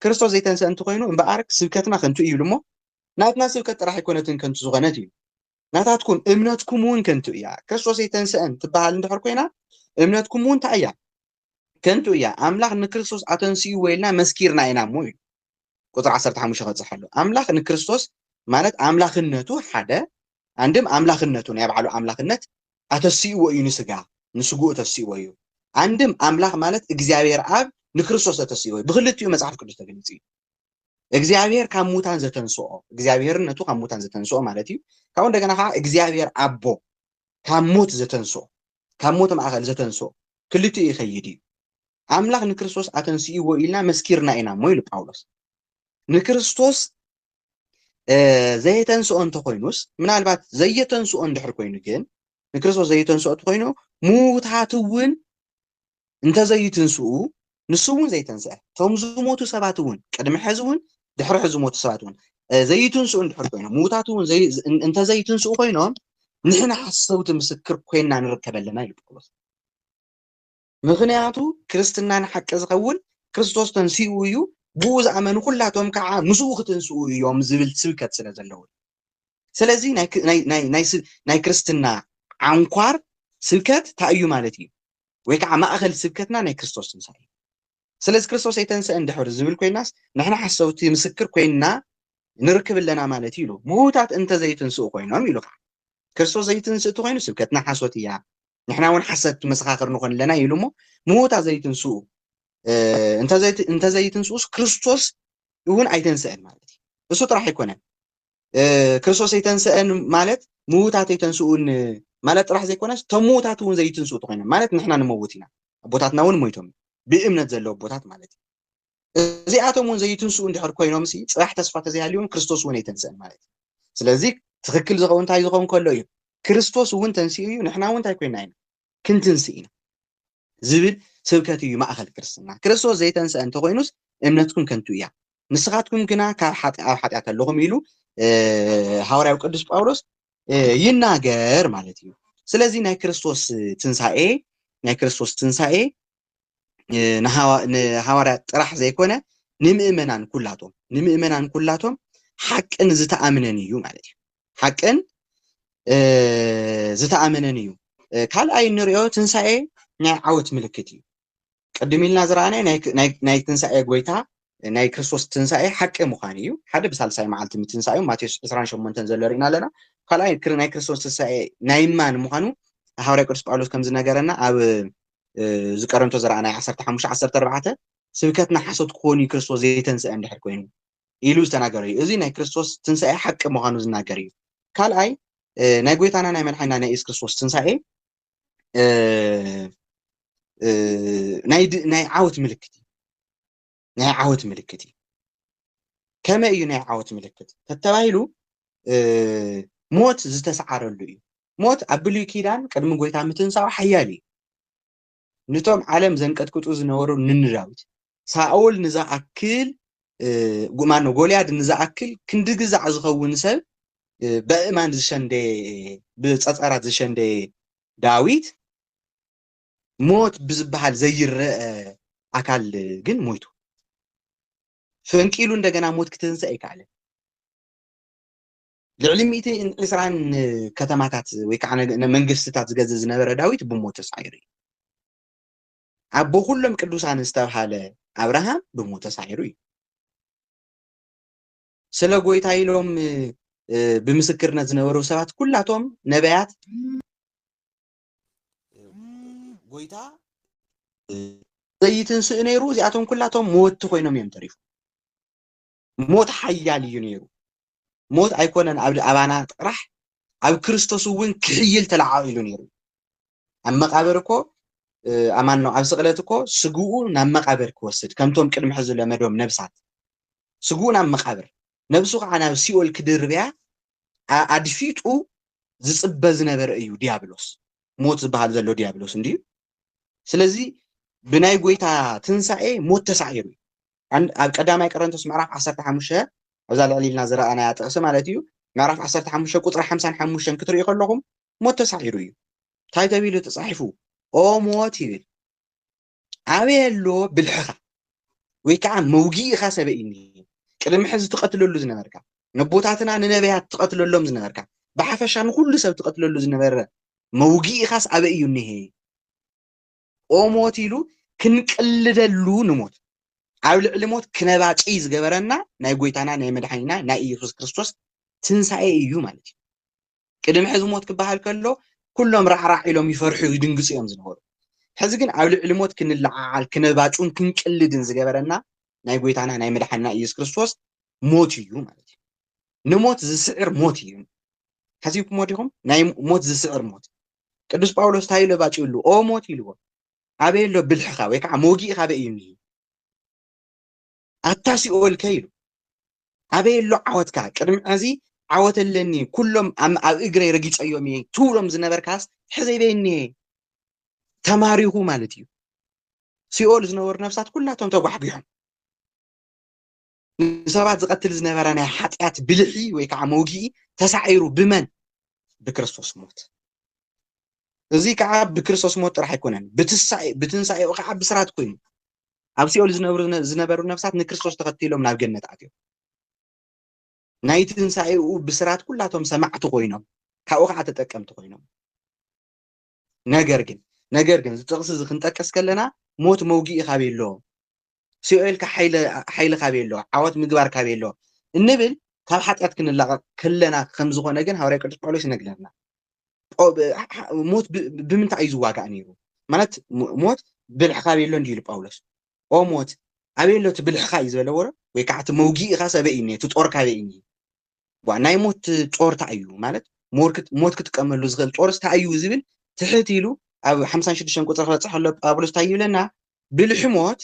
ክርስቶስ ዘይተንስአ እንተኮይኑ እምበኣር ስብከትና ከንቱ እዩ ይብሉ እሞ ናትና ስብከት ጥራሕ ኣይኮነትን ከንቱ ዝኾነት እዩ ናታትኩም እምነትኩም እውን ከንቱ እያ ክርስቶስ ኣይተንስአን ትበሃል እንድሕር ኮይና እምነትኩም እውን እንታይ እያ ከንቱ እያ ኣምላኽ ንክርስቶስ ኣተንስእዎ ኢልና መስኪርና ኢና እሞ ኢሉ ቁፅሪ 15 ከብፅሕ ኣሎ ኣምላኽ ንክርስቶስ ማለት ኣምላኽነቱ ሓደ ኣንድም ኣምላኽነቱ ናይ ባዕሉ ኣምላኽነት ኣተስእዎ እዩ ንስጋ ንስግኡ ተስእዎ እዩ ኣንድም ኣምላኽ ማለት እግዚኣብሔር ኣብ ንክርስቶስ ተተስእዎ እዩ ብክልቲኡ መፅሓፍ ቅዱስ ተገሊፁ እዩ እግዚኣብሔር ካብ ሙታን ዘተንስኦ እግዚኣብሔርነቱ ካብ ሙታን ዘተንስኦ ማለት እዩ ካብኡ እንደገና ከዓ እግዚኣብሔር ኣቦ ካብ ሞት ዘተንስኦ ካብ ሞት ማእኸል ዘተንስኦ ክልቲኡ ይኸይድ እዩ ኣምላኽ ንክርስቶስ ኣተንስእዎ ኢልና መስኪርና ኢና እሞ ኢሉ ጳውሎስ ንክርስቶስ ዘየተንስኦ እንተኮይኑስ ምናልባት ዘየተንስኦ እንድሕር ኮይኑ ግን ንክርስቶስ ዘየተንስኦ እንተኮይኑ ምውታት እውን እንተ ዘዩትንስኡ ንሱ እውን ዘይተንስአ እቶም ዝሞቱ ሰባት እውን ቅድሚ ሕዚ እውን ድሕሪ ሕዚ ዝሞቱ ሰባት እውን ዘይትንስኡ እንድሕር ኮይኖም ምዉታት እውን እንተ ዘይትንስኡ ኮይኖም ንሕና ሓሰውቲ ምስክር ኮይና ንርከብ ኣለና ኢሉ ጳውሎስ ምክንያቱ ክርስትና ንሓቂ ዝኸውን ክርስቶስ ተንስኡ እዩ ብኡ ዝኣመኑ ኩላቶም ከዓ ምስኡ ክትንስኡ እዮም ዝብል ስብከት ስለ ዘለዎ ስለዚ ናይ ክርስትና ዓንኳር ስብከት እንታይ እዩ ማለት እዩ ወይ ከዓ ማእኸል ስብከትና ናይ ክርስቶስ ትንሳኤ እዩ። ስለዚ ክርስቶስ ኣይተንሰእን ድሕር ዝብል ኮይናስ ንሕና ሓሰውቲ ምስክር ኮይንና ንርክብ ኣለና ማለት እዩ ኢሉ። ምውታት እንተዘይትንስኡ ኮይኖም ኢሉ ከዓ ክርስቶስ ዘይትንስእ እንተኮይኑ ስብከትና ሓሶት እያ ንሕና እውን ሓሰት መሰኻኽር ንኾን ኣለና ኢሉ እሞ ምውታት ዘይትንስኡ እንተዘይትንስኡስ ክርስቶስ እውን ኣይተንስእን ማለት እዩ። እሱ ጥራሕ ኣይኮነን ክርስቶስ ኣይተንስአን ማለት ምዉታት ኣይተንስኡን ማለት ጥራሕ ዘይኮነስ እቶም ምዉታት እውን ዘይትንስኡ ተኮይኖም ማለት ንሕና ንመውት ኢና ኣቦታትና እውን ሞይቶም ብእምነት ዘለዉ ኣቦታት ማለት እዩ እዚኣቶም እውን ዘይትንስኡ እንድሕር ኮይኖም ሲ ፅራሕ ተስፋ ተዘይሃልዮም ክርስቶስ እውን ኣይተንስአን ማለት እዩ ስለዚ ትክክል ዝኸውን እንታይ ዝኸውን ከሎ እዩ ክርስቶስ እውን ተንስኡ እዩ ንሕና እውን እንታይ ኮይና ኢና ክንትንስእ ኢና ዝብል ስብከት እዩ ማእከል ክርስትና። ክርስቶስ ዘይተንስኣ እንተ ዀይኑስ እምነትኩም ከንቱ እያ፣ ንስኻትኩም ግና ካብ ሓጢ ኣብ ሓጢኣት ኣሎኹም ኢሉ ሃዋርያዊ ቅዱስ ጳውሎስ ይናገር ማለት እዩ። ስለዚ ናይ ክርስቶስ ትንሳኤ ናይ ክርስቶስ ትንሳኤ ንሃዋርያት ጥራሕ ዘይኮነ ንምእመናን ኩላቶም ንምእመናን ኩላቶም ሓቅን ዝተኣምነን እዩ ማለት እዩ። ሓቅን ዝተኣመነን እዩ ካልኣይ እንሪኦ ትንሳኤ ናይ ዓወት ምልክት እዩ ቅድም ኢልና ዝረኣናይ ናይ ትንሳኤ ጎይታ ናይ ክርስቶስ ትንሳኤ ሓቂ ምዃን እዩ ሓደ ብሳልሳይ መዓልቲ ምትንሳኤ ማቴዎስ 28 ዘሎ ርኢና ኣለና ካልኣይ ናይ ክርስቶስ ትንሳኤ ናይ ማን ምዃኑ ሃዋርያ ቅዱስ ጳውሎስ ከም ዝነገረና ኣብ ዝቀረንቶ ዝረኣናይ 15 14 ስብከትና ሓሶት ክኾኑ ክርስቶስ ዘይተንስአ እንድሕር ኮይኑ ኢሉ ዝተናገረ እዩ። እዚ ናይ ክርስቶስ ትንሳኤ ሓቂ ምዃኑ ዝናገር እዩ። ካልኣይ ናይ ጎይታና ናይ መድሓኒና ናይ ኢየሱስ ክርስቶስ ትንሳኤ ናይ ዓወት ምልክት እዩ ናይ ዓወት ምልክት እዩ ከመይ እዩ ናይ ዓወት ምልክት ተተባሂሉ ሞት ዝተሰዓረሉ እዩ ሞት ኣብ ብሉይ ኪዳን ቅድሚ ጎይታ ምትንሳኡ ሓያል እዩ ንቶም ዓለም ዘንቀጥቅጡ ዝነበሩ ንን ዳዊት ሳኦል ንዝኣክል ማኖ ጎልያድ ንዝኣክል ክንዲ ግዛዕ ዝኸውን ሰብ በእማን ዝሸንደየ ብጸጸራት ዝሸንደየ ዳዊት ሞት ብዝበሃል ዘይረአ ኣካል ግን ሞይቱ ፈንቂሉ እንደገና ሞት ክትንሰእ ኣይከኣለን። ልዕሊ ሚእትን ዕስራን ከተማታት ወይ ከዓ መንግስትታት ዝገዝእ ዝነበረ ዳዊት ብሞት ተሳዒሩ እዩ። ኣቦ ኩሎም ቅዱሳን ዝተብሃለ ኣብርሃም ብሞት ተሳዒሩ እዩ። ስለ ጎይታ ኢሎም ብምስክርነት ዝነበሩ ሰባት ኩላቶም ነቢያት ጎይታ ዘይትንስእ ነይሩ እዚኣቶም ኩላቶም መወቲ ኮይኖም እዮም ተሪፎም። ሞት ሓያል እዩ ነይሩ። ሞት ኣይኮነን ኣብ ኣባና ጥራሕ ኣብ ክርስቶስ እውን ክሕይል ተለዓዒሉ ነይሩ። ኣብ መቃብር እኮ ኣማን ነው ኣብ ስቕለት እኮ ስግኡ ናብ መቃብር ክወስድ ከምቶም ቅድሚ ሕዚ ለመዶም ነብሳት ስግኡ ናብ መቃብር ነብሱ ከዓ ናብ ሲኦል ክድርብያ ኣድፊጡ ዝፅበ ዝነበረ እዩ ዲያብሎስ ሞት ዝበሃል ዘሎ ዲያብሎስ እንድዩ ስለዚ ብናይ ጎይታ ትንሳኤ ሞት ተሳዒሩ እዩ ኣብ ቀዳማይ ቀረንቶስ ምዕራፍ 15 ኣብዛ ልዕሊ ኢልና ዝረኣናያ ጥቕሲ ማለት እዩ ምዕራፍ 15 ቁፅሪ 55 ክትሪኡ ከለኹም ሞት ተሳዒሩ እዩ እንታይ ተቢሉ ተፃሒፉ ኦ ሞት ይብል ኣበየ ኣሎ ብልሕኻ ወይ ከዓ መውጊእኻ ሰበኢኒ ቅድሚ ሕዚ ትቐትለሉ ዝነበርካ ነቦታትና ንነብያት ትቐትለሎም ዝነበርካ ብሓፈሻ ንኩሉ ሰብ ትቐትለሉ ዝነበረ መውግኢኻስ ኣበይ እዩ እኒሄ ኦሞት ኢሉ ክንቅልደሉ ንሞት ኣብ ልዕሊ ሞት ክነባጭይ ዝገበረና ናይ ጎይታና ናይ መድሓኒና ናይ ኢየሱስ ክርስቶስ ትንሳኤ እዩ ማለት እዩ ቅድሚ ሕዚ ሞት ክበሃል ከሎ ኩሎም ራዕራዕ ኢሎም ይፈርሑ ይድንግፁ እዮም ዝነበሩ ሕዚ ግን ኣብ ልዕሊ ሞት ክንለዓዓል ክነባጩን ክንቅልድን ዝገበረና ናይ ጎይታና ናይ መድሓንና ኢየሱስ ክርስቶስ ሞት እዩ ማለት እዩ ንሞት ዝስዕር ሞት እዩ። ሓሲብኩሞ ዲኹም? ናይ ሞት ዝስዕር ሞት ቅዱስ ጳውሎስ እንታይ ኢሉ ባጭሉ ኦ ሞት ኢልዎ ኣበይ ኣሎ ብልሕኻ ወይ ከዓ መውጊእኻ ኣበይ እዩ እኒሄ ኣታ ሲኦልከ ኢሉ ኣበይ ኣሎ ዓወትካ ቅድሚ ሕዚ ዓወት ኣለኒ ኩሎም ኣብ እግረይ ረጊፀዮም እየ ትብሎም ዝነበርካስ ሕዘይ በይ እኒሄ ተማሪኹ ማለት እዩ ሲኦል ዝነበሩ ነፍሳት ኩላቶም ተጓሕጒሖም ንሰባት ዝቐትል ዝነበረ ናይ ሓጢኣት ብልሒ ወይ ከዓ መውጊኢ ተሳዒሩ ብመን ብክርስቶስ ሞት እዚ ከዓ ብክርስቶስ ሞት ጥራሕ ኣይኮነን ብትንሳኤኡ ከዓ ብስራት ኮይኑ ኣብ ሲኦል ዝነብሩ ዝነበሩ ነፍሳት ንክርስቶስ ተኸቲሎም ናብ ገነት ኣትዮም ናይ ትንሳኤኡ ብስራት ኩላቶም ሰማዕቲ ኮይኖም ካብኡ ከዓ ተጠቀምቲ ኮይኖም ነገር ግን ነገር ግን እዚ ጥቕሲ እዚ ክንጠቅስ ከለና ሞት መውግኢ ካበይ ኣሎ ሲኦል ከ ሓይሊ ካበይ ኣሎ ዓወት ምግባር ካበይ ኣሎ እንብል ካብ ሓጢኣት ክንላቐቕ ከለና ከም ዝኾነ ግን ሃዋርያ ቅዱስ ጳውሎስ ይነግረና ሞት ብምንታይ እዩ ዝዋጋእ ነይሩ ማለት ሞት ብልሒ ካበይ ኣሎ እንዲዩ ኢሉ ጳውሎስ ኦ ሞት ኣበይ ኣሎ እቲ ብልሕኻ እዩ ዝበለዎ ዶ ወይ ከዓ እቲ መውጊእኻ ሰበይ እዩ እቲ ጦር ካበይ እዩ ጓ ናይ ሞት ጾር ታይ እዩ ማለት ሞት ክጥቀመሉ ዝኽእል ጾርስ ታይ እዩ ዝብል ትሕት ኢሉ ኣብ ሓምሳን ሽዱሽተን ቁጽሪ ክበጽሕ ከሎ ጳውሎስ ታይ ይብለና ብልሒ ሞት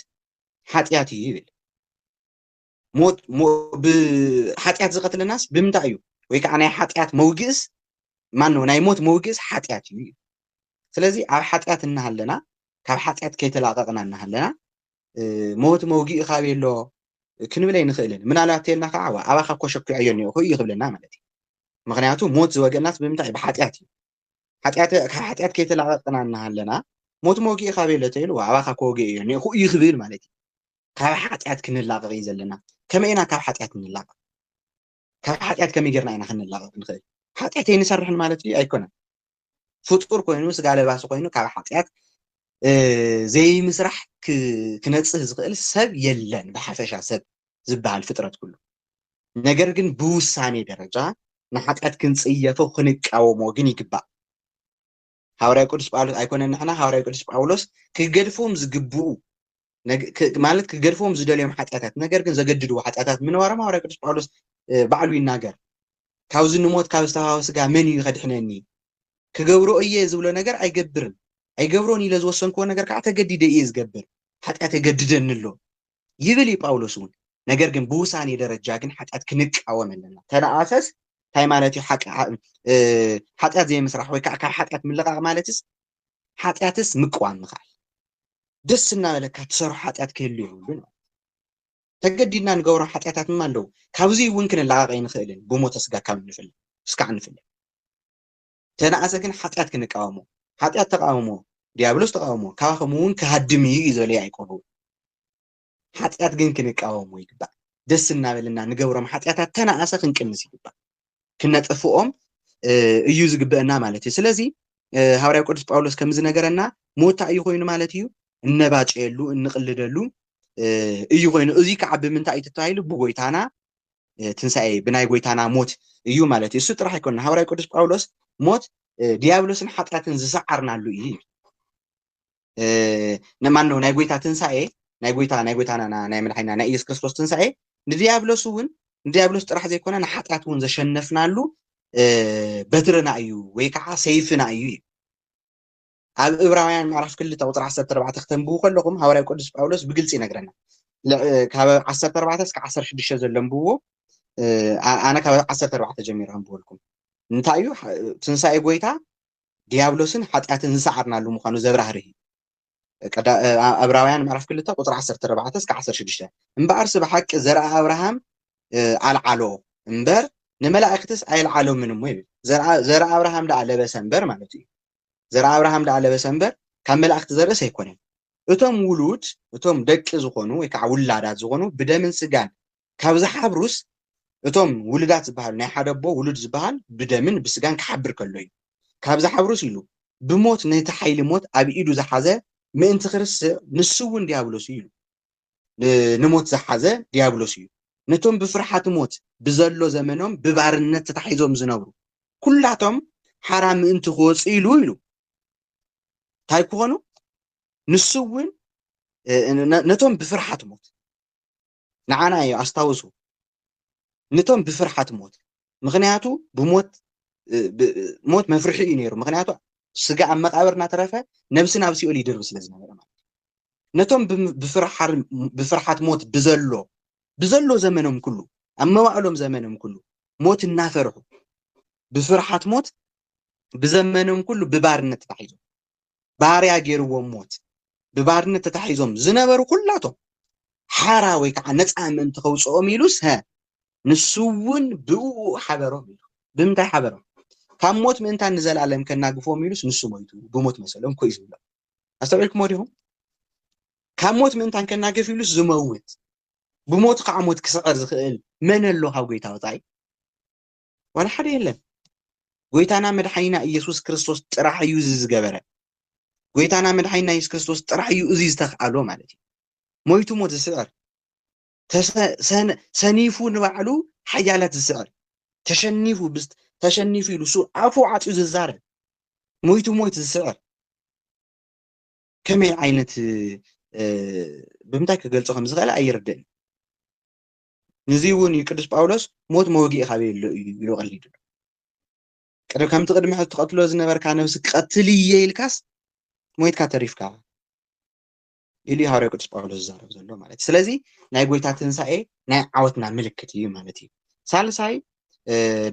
ሓጢኣት እዩ ይብል ሞት ብሓጢኣት ዝቐትለናስ ብምንታይ እዩ ወይ ከዓ ናይ ሓጢኣት መውግእስ ማነው ናይ ሞት መውግእስ ሓጢኣት እዩ እዩ ስለዚ ኣብ ሓጢኣት እናሃለና ካብ ሓጢኣት ከይተላቐቕና እናሃለና ሞት መውጊኡ ካበይ ኣሎ ክንብል ኣይንኽእልን ምናልባት ተልና ከዓ ኣባካ እኮ ሸኪዖዮ እኒኦኹ እዩ ክብለና ማለት እዩ ምክንያቱ ሞት ዝወገናስ ብምንታይ እዩ ብሓጢኣት እዩ ሓጢኣት ካብ ሓጢኣት ከይተላቐቅና እናሃለና ሞት መውጊኡ ካበይ ኣሎ ተይሉ ኣባካ እኮ ወጊኡ እዩ እኒኦኹ እዩ ክብል ማለት እዩ ካብ ሓጢኣት ክንላቐቕ እዩ ዘለና ከመይ ኢና ካብ ሓጢኣት ንላቐቕ ካብ ሓጢኣት ከመይ ጌርና ኢና ክንላቐቕ ንኽእል? ሓጢኣት ኣይንሰርሕን ማለት ድዩ? ኣይኮነን። ፍጡር ኮይኑ ስጋ ለባሲ ኮይኑ ካብ ሓጢኣት ዘይምስራሕ ክነጽህ ዝኽእል ሰብ የለን፣ ብሓፈሻ ሰብ ዝበሃል ፍጥረት ኩሉ። ነገር ግን ብውሳኔ ደረጃ ንሓጢኣት ክንጽየፎ ክንቃወሞ ግን ይግባእ። ሃዋርያ ቅዱስ ጳውሎስ ኣይኮነን ንሕና ሃዋርያ ቅዱስ ጳውሎስ ክገድፍዎም ዝግብኡ ማለት ክገድፍዎም ዝደልዮም ሓጢኣታት ነገር ግን ዘገድድዎ ሓጢኣታት ምንባሮም ሃዋርያ ቅዱስ ጳውሎስ ባዕሉ ይናገር ካብዚ ንሞት ካብ ዝተሃወ ስጋ መን እዩ ከድሕነኒ ክገብሮ እየ ዝብሎ ነገር ኣይገብርን ኣይገብሮን ኢለ ዝወሰንክዎ ነገር ከዓ ተገዲደ እየ ዝገብር ሓጢኣት የገድደኒ ኣሎ ይብል እዩ ጳውሎስ እውን ነገር ግን ብውሳኔ ደረጃ ግን ሓጢኣት ክንቃወም ኣለና ተነኣሰስ እንታይ ማለት እዩ ሓጢኣት ዘይምስራሕ ወይ ከዓ ካብ ሓጢኣት ምልቃቕ ማለትስ ሓጢኣትስ ምቅዋም ምኽኣል ደስ እናበለካ ትሰርሖ ሓጢኣት ክህሉ የብሉን ተገዲድና ንገብሮ ሓጢኣታት ድማ ኣለዉ ካብዙይ እውን ክንላቐቕ ኣይንኽእልን ብሞተ ስጋ ካብ ንፍለ እስካዕ ንፍለ እንተነኣሰ ግን ሓጢኣት ክንቃወሞ። ሓጢኣት ተቓወሞ፣ ድያብሎስ ተቓወሞ፣ ካባኹምውን ክሃድም እዩ እዩ ዝበለ ያእቆብ እውን። ሓጢኣት ግን ክንቃወሞ ይግባእ። ደስ እናበለና ንገብሮም ሓጢኣታት ተነኣሰ ክንቅንስ ይግባእ። ክነጥፍኦም እዩ ዝግበአና ማለት እዩ። ስለዚ ሃዋርያው ቅዱስ ጳውሎስ ከም ዝነገረና ሞታ እዩ ኮይኑ ማለት እዩ እነባጨየሉ እንቕልደሉ እዩ ኮይኑ እዚ ከዓ ብምንታይ እዩ ተባሂሉ ብጎይታና ትንሳኤ ብናይ ጎይታና ሞት እዩ ማለት እዩ እሱ ጥራሕ ኣይኮነ ሃዋርያ ቅዱስ ጳውሎስ ሞት ዲያብሎስን ሓጢኣትን ዝሰዓርናሉ እዩ ነማን ነው ናይ ጎይታ ትንሳኤ ናይ ጎይታ ናይ ጎይታና ናይ መድሓኒና ናይ ኢየሱስ ክርስቶስ ትንሳኤ ንዲያብሎስ እውን ንዲያብሎስ ጥራሕ ዘይኮነ ንሓጢኣት እውን ዘሸነፍናሉ በትርና እዩ ወይ ከዓ ሰይፍና እዩ እዩ ኣብ እብራውያን ምዕራፍ ክልተ ቁፅሪ ዓሰርተ ኣርባዕተ ክተንብቡ ከለኹም ሃዋርያ ቅዱስ ጳውሎስ ብግልፂ ይነግረና ካብ ዓሰርተ ኣርባዕተ እስከ ዓሰርተ ሽዱሽተ ዘሎ ኣንብብዎ ኣነ ካብ ዓሰርተ ኣርባዕተ ጀሚረ ኣንብበልኩም እንታይ እዩ ትንሳኤ ጎይታ ዲያብሎስን ሓጢኣትን ዝሰዓርናሉ ምዃኑ ዘብራህርህ እዩ ኣብራውያን ምዕራፍ ክልተ ቁፅሪ ዓሰርተ ኣርባዕተ እስከ ዓሰርተ ሽዱሽተ እምበኣርሲ ብሓቂ ዘርኣ ኣብርሃም ኣልዓሎ እምበር ንመላእክትስ ኣየልዓሎምን እሞ ይብል ዘርኣ ኣብርሃም ደኣ ለበሰ እምበር ማለት እዩ ዘርኣብርሃም ደኣ ለበሰ እምበር ካብ መላእክቲ ዘርእስ ኣይኮነን። እቶም ውሉድ እቶም ደቂ ዝኾኑ ወይ ከዓ ውላዳት ዝኾኑ ብደምን ስጋን ካብ ዝሓብሩስ እቶም ውሉዳት ዝበሃሉ ናይ ሓደ ኣቦ ውሉድ ዝበሃል ብደምን ብስጋን ክሓብር ከሎ እዩ። ካብ ዝሓብሩስ ኢሉ ብሞት ነቲ ሓይሊ ሞት ኣብ ኢዱ ዝሓዘ ምእንቲ ክርስዕ ንሱ እውን ዲያብሎስ እዩ ኢሉ። ንሞት ዝሓዘ ድያብሎስ እዩ። ነቶም ብፍርሓት ሞት ብዘሎ ዘመኖም ብባርነት ተታሒዞም ዝነብሩ ኩላቶም ሓራ ምእንቲ ክወፁ ኢሉ ኢሉ እንታይ ክኾኑ ንሱ እውን ነቶም ብፍርሓት ሞት ንዓና እዩ ኣስታውሱ ነቶም ብፍርሓት ሞት ምኽንያቱ ብሞት ሞት መፍርሒ እዩ ነይሩ ምኽንያቱ ስጋ ኣብ መቃብር እናተረፈ ነብሲ ናብ ሲኦል ይድርቢ ስለ ዝነበረ ማለት ነቶም ብፍርሓት ሞት ብዘሎ ብዘሎ ዘመኖም ኩሉ ኣብ መዋእሎም ዘመኖም ኩሉ ሞት እናፈርሑ ብፍርሓት ሞት ብዘመኖም ኩሉ ብባርነት ተታሒዞም ባርያ ገይርዎም ሞት ብባርነት ተታሒዞም ዝነበሩ ኩላቶም ሓራ ወይ ከዓ ነፃ ምእንቲ ከውፅኦም ኢሉስ ሀ ንሱ እውን ብእኡ ሓበሮም ኢሉ ብምንታይ ሓበሮም ካብ ሞት ምእንታን ንዘለኣለም ከናግፎም ኢሉስ ንሱ ሞይቱ ብሞት መሰሎም ኮይ ዝብሎም ኣስተውዒልክሞ ዲኹም ካብ ሞት ምእንታን ከናግፍ ኢሉስ ዝመውት ብሞቱ ከዓ ሞት ክስዕር ዝኽእል መን ኣሎ ካብ ጎይታ ወፃኢ ዋላ ሓደ የለን። ጎይታና መድሓኒና ኢየሱስ ክርስቶስ ጥራሕ እዩ እዚ ዝገበረ። ጎይታና መድሓኒና ኢየሱስ ክርስቶስ ጥራሕ እዩ እዚ ዝተኽኣሎ ማለት እዩ። ሞይቱ ሞት ዝስዕር፣ ሰኒፉ ንባዕሉ ሓያላት ዝስዕር፣ ተሸኒፉ ተሸኒፉ ኢሉ እሱ ኣፉ ዓፅዩ ዝዛረብ፣ ሞይቱ ሞይት ዝስዕር ከመይ ዓይነት ብምንታይ ክገልፆ ከም ዝኽእል ኣይርድእን። ንዙይ እውን እዩ ቅዱስ ጳውሎስ ሞት መወግኢ ካበየሎ እዩ ኢሉ ቀሊዱ ከምቲ ቅድሚ ሕዚ ትቐትሎ ዝነበርካ ነብሲ ክቐትል እየ ኢልካስ ሞይትካ ተሪፍካ ኢሉ ሃዋርያ ቅዱስ ጳውሎስ ዝዛረብ ዘሎ ማለት እዩ ስለዚ ናይ ጎይታ ትንሳኤ ናይ ዓወትና ምልክት እዩ ማለት እዩ ሳልሳይ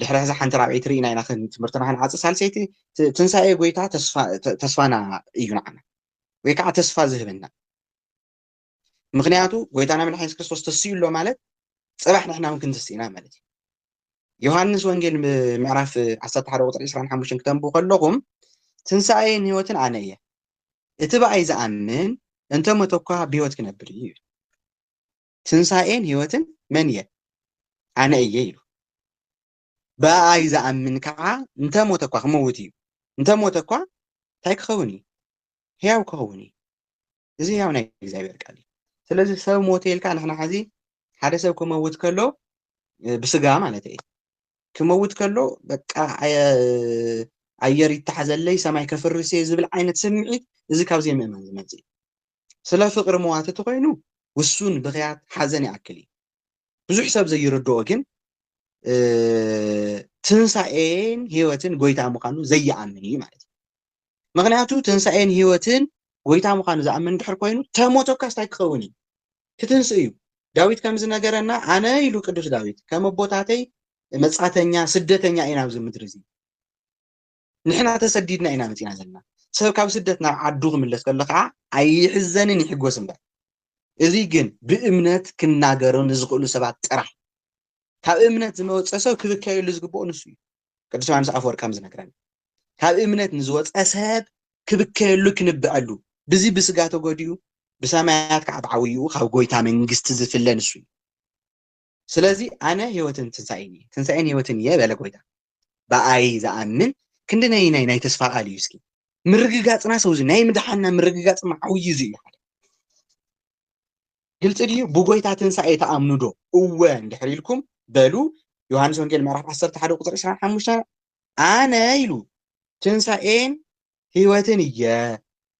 ድሕሪ ሕዚ ሓንቲ ራብዒይቲ ርኢና ኢና ትምህርትና ክንዓፅ ሳልሰይቲ ትንሳኤ ጎይታ ተስፋና እዩ ንዓና ወይ ከዓ ተስፋ ዝህበና ምክንያቱ ጎይታና መድሓ የሱስ ክርስቶስ ተስዩ ኣሎ ማለት ፅባሕ ንሕና እውን ክንትስ ኢና ማለት እዩ ዮሃንስ ወንጌል ምዕራፍ 11 ቁፅሪ 25 ክተንቡ ከለኹም ትንሳኤን ህይወትን ኣነ እየ እቲ ብኣይ ዝኣምን እንተ ሞተ እኳ ብህይወት ክነብር እዩ ትንሳኤን ህይወትን መን እየ ኣነ እየ ኢሉ ብኣይ ዝኣምን ከዓ እንተ ሞተ እኳ ክመውት እዩ እንተ ሞተ እኳ እንታይ ክኸውን እዩ ህያው ክኸውን እዩ እዚ ያው ናይ እግዚኣብሔር ቃል እዩ ስለዚ ሰብ ሞተ ኢልካ ንሕና ሕዚ ሓደ ሰብ ክመውት ከሎ ብስጋ ማለት እዩ ክመውት ከሎ በቃ ኣየር ይተሓዘለይ ሰማይ ከፍርስ እየ ዝብል ዓይነት ስምዒት እዚ ካብ ዘይምእማን ዝመፅእ እዩ ስለ ፍቅሪ መዋት እቲ ኮይኑ ውሱን ብክያት ሓዘን ይኣክል እዩ ብዙሕ ሰብ ዘይርድኦ ግን ትንሳኤን ህይወትን ጎይታ ምዃኑ ዘይኣምን እዩ ማለት እዩ ምክንያቱ ትንሳኤን ህይወትን ጎይታ ምዃኑ ዝኣምን ድሕር ኮይኑ ተሞቶካስ ታይ ክኸውን እዩ ክትንስእ እዩ ዳዊት ከምዚ ነገረና ኣነ ኢሉ ቅዱስ ዳዊት ከም ኣቦታተይ መጻተኛ ስደተኛ ኢና ኣብዚ ምድሪ እዚ ንሕና ተሰዲድና ኢና መጺና ዘለና ሰብ ካብ ስደት ናብ ዓዱ ክምለስ ከሎ ከዓ ኣይሕዘንን ይሕጎስ እምበር እዚ ግን ብእምነት ክናገሩ ንዝኽእሉ ሰባት ጥራሕ ካብ እምነት ዝመወፀ ሰብ ክብከየሉ ዝግብኦ ንሱ እዩ ቅዱስ ዮሓንስ ኣፈወርቅ ከም ዝነግረና ካብ እምነት ንዝወፀ ሰብ ክብከየሉ ክንብዐሉ ብዚ ብስጋ ተጎዲኡ ብሰማያት ከዓ ብዓብይኡ ካብ ጎይታ መንግስቲ ዝፍለ ንሱ እዩ ስለዚ ኣነ ህይወትን ትንሳኤን እየ ትንሳኤን ህይወትን እየ በለ ጎይታ ብኣይ ዝኣምን ክንዲ ናይ ናይ ናይ ተስፋ ቃል እዩ እስኪ ምርግጋፅና ሰው እዚ ናይ ምድሓና ምርግጋፅ መዓውይ እዚ እዩ ሓደ ግልፂ ድዩ? ብጎይታ ትንሣኤ ትኣምኑ ዶ? እወ እንድሕር ኢልኩም በሉ ዮሐንስ ወንጌል ምዕራፍ ዓሰርተ ሓደ ቁፅሪ ዕስራን ሓሙሽተን ኣነ ኢሉ ትንሣኤን ሕይወትን እየ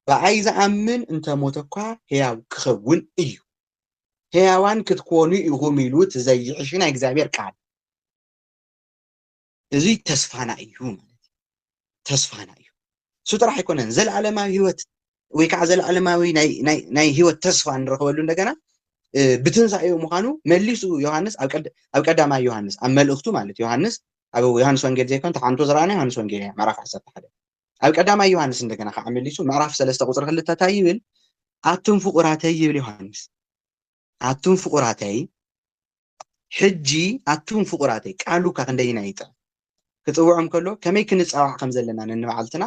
ብኣይ ዝኣምን እንተ ሞተ እኳ ሕያው ክኸውን እዩ ሕያዋን ክትኮኑ ኢኹም ኢሉ እቲ ዘይሕሽ ናይ እግዚኣብሔር ቃል እዚ ተስፋና እዩ ማለት እዩ ተስፋና እዩ እሱ ጥራሕ ኣይኮነን ዘለዓለማዊ ህይወት ወይ ከዓ ዘለዓለማዊ ናይ ህይወት ተስፋ ንረኽበሉ እንደገና ብትንሳኤኡ ምዃኑ መሊሱ ዮሃንስ ኣብ ቀዳማይ ዮሃንስ ኣብ መልእኽቱ ማለት ዮሃንስ ኣብ ዮሃንስ ወንጌል ዘይኮን ተሓንቶ ዝረኣና ዮሃንስ ወንጌል እያ ምዕራፍ ዓሰርተ ሓደ ኣብ ቀዳማይ ዮሃንስ እንደገና ከዓ መሊሱ ምዕራፍ ሰለስተ ቁፅሪ ክልተ እንታይ ይብል ኣቱም ፍቁራተይ ይብል ዮሃንስ ኣቱም ፍቁራተይ ሕጂ ኣቱም ፍቁራተይ ቃሉ እካ ክንደይ ኢና ይጥዕም ክጽውዖም ከሎ ከመይ ክንጻዋዕ ከም ዘለና ነንባዕልትና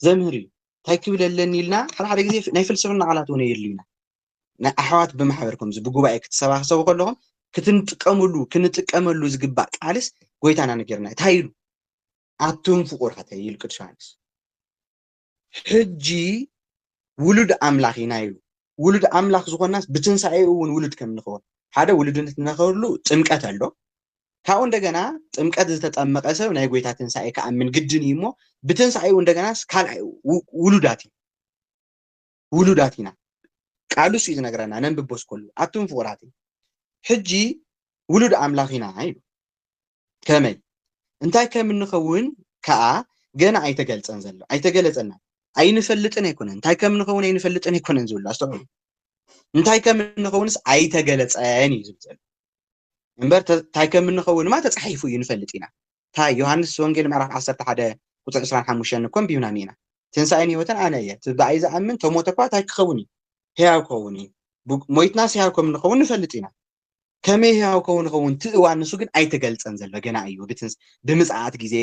ዘምህር እዩ እንታይ ክብል ኣለኒ ኢልና ሓደ ሓደ ግዜ ናይ ፍልስፍና ቃላት እውን የድልዩና ናይ ኣሕዋት ብማሕበር ከምዚ ብጉባኤ ክትሰባሰቡ ከለኹም ክትንጥቀምሉ ክንጥቀመሉ ዝግባእ ቃልስ ጎይታና ነገርና እንታይ ኢሉ ኣቱም ፍቁራተይ ኢሉ ቅዱስ ዮሃንስ ሕጂ ውሉድ ኣምላኽ ኢና ኢሉ። ውሉድ ኣምላኽ ዝኾንናስ ብትንሳኤኡ እውን ውሉድ ከም እንኸውን ሓደ ውሉድነት እንረኽበሉ ጥምቀት ኣሎ። ካብኡ እንደገና ጥምቀት ዝተጠመቐ ሰብ ናይ ጎይታ ትንሳኤ ክኣምን ግድን እዩ እሞ ብትንሳኤኡ እንደገናስ ካልኣይ ውሉዳት እዩ። ውሉዳት ኢና ቃሉ እሱ እዩ ዝነግረና ነንብቦስ ከሉ ኣቱም ፍቁራተይ ሕጂ ውሉድ ኣምላኽ ኢና ኢሉ ከመይ እንታይ ከም እንኸውን ከዓ ገና ኣይተገልፀን ዘሎ ኣይተገለፀና ኣይንፈልጥን ኣይኮነን እንታይ ከም እንኸውን ኣይንፈልጥን ኣይኮነን ዝብሉ ኣስተውዕሉ እንታይ ከም እንኸውንስ ኣይተገለፀን እዩ ዝብል ዘሎ እምበር እንታይ ከም እንኸውንማ ተፃሒፉ እዩ ንፈልጥ ኢና ታይ ዮሃንስ ወንጌል ምዕራፍ ዓሰርተ ሓደ ቁፅሪ ዕስራን ሓሙሽተን እኮ ኣንቢብና እኒኤና ትንሳኤን ህይወትን ኣነ እየ እቲ ብኣይ ዝኣምን ተሞተ እኳ ታይ ክኸውን እዩ ህያው ክኸውን እዩ ሞይትናስ ህያው ከም ንኸውን ንፈልጥ ኢና ከመይ ህያው ከውን ኸውን እቲ እዋን ንሱ ግን ኣይተገልፀን ዘሎ ገና እዩ ብምፅኣት ግዜ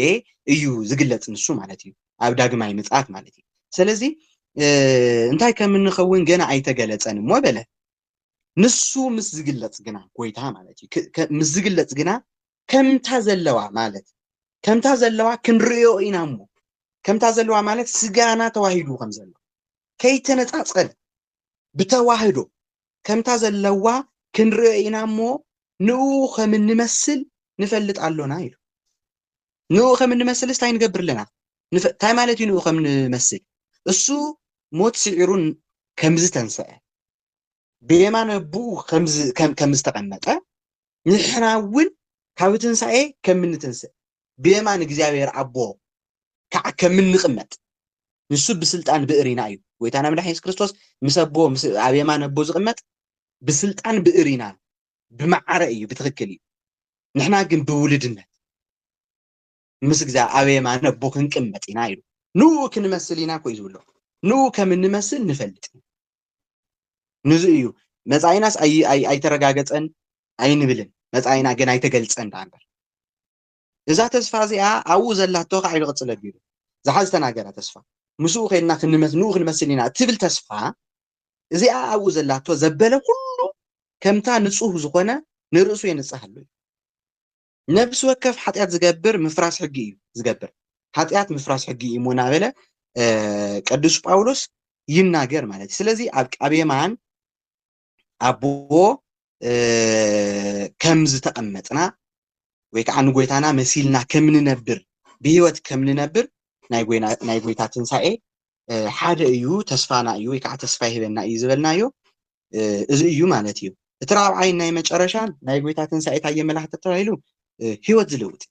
እዩ ዝግለፅ ንሱ ማለት እዩ ኣብ ዳግማይ ምፅኣት ማለት እዩ ስለዚ እንታይ ከም እንኸውን ገና ኣይተገለፀን እሞ በለ ንሱ ምስ ዝግለፅ ግና ጎይታ ማለት እዩ ምስ ዝግለፅ ግና ከምታ ዘለዋ ማለት ከምታ ዘለዋ ክንርእዮ ኢና እሞ ከምታ ዘለዋ ማለት ስጋና ተዋሂዱ ከም ዘሎ ከይተነጻጸል ብተዋህዶ ከምታ ዘለዋ ክንርእዮ ኢና እሞ ንኡ ከም እንመስል ንፈልጥ ኣሎና ኢሉ ንኡ ከም እንመስልስ እንታይ ንገብር ኣለና እንታይ ማለት እዩ ንኡ ከም ንመስል እሱ ሞት ስዒሩ ከምዝተንስዐ ብየማን ኣቦኡ ከም ዝተቐመጠ ንሕና እውን ካብ ትንሣኤ ከም እንተንሥእ ብየማን እግዚኣብሔር ኣቦ ከዓ ከም እንቕመጥ ንሱ ብስልጣን ብእሪና እዩ ጎይታና መድኃኒ ኢየሱስ ክርስቶስ ምስ ኣቦ ኣብ የማን ኣቦ ዝቕመጥ ብስልጣን ብእሪና ብመዓረ እዩ ብትክክል እዩ ንሕና ግን ብውልድነት ምስ እግዚኣ ኣብ የማነ ኣቦ ክንቅመጥ ኢና ኢሉ ንኡ ክንመስል ኢና ኮዩ ዝብሎ ንኡ ከም እንመስል ንፈልጥ ኢና ንዙ እዩ መፃኢናስ ኣይተረጋገፀን ኣይንብልን መፃኢና ግን ኣይተገልፀን ዳኣ እምበር እዛ ተስፋ እዚኣ ኣብኡ ዘላቶ ከዓ ኢሉ ቅፅል ኣቢሉ ዝሓ ዝተናገራ ተስፋ ምስኡ ከይድና ክንመስ ንኡ ክንመስል ኢና እትብል ተስፋ እዚኣ ኣብኡ ዘላቶ ዘበለ ኩሉ ከምታ ንፁህ ዝኾነ ንርእሱ የንፅሃሉ እዩ ነፍሲ ወከፍ ሓጢኣት ዝገብር ምፍራስ ሕጊ እዩ ዝገብር ሓጢኣት ምፍራስ ሕጊ እዩ እሞ እናበለ ቅዱስ ጳውሎስ ይናገር ማለት እዩ ስለዚ ኣብ ኣብ የማን ኣቦ ከም ዝተቐመጥና ወይ ከዓ ንጎይታና መሲልና ከም ንነብር ብሂወት ከም ንነብር ናይ ጎይታ ትንሳኤ ሓደ እዩ ተስፋና እዩ ወይ ከዓ ተስፋ ይህበና እዩ ዝበልናዮ እዚ እዩ ማለት እዩ እቲ ራብዓይን ናይ መጨረሻን ናይ ጎይታ ትንሳኤ እንታይ የመላኽት ተባሂሉ ህይወት ዝልውጥ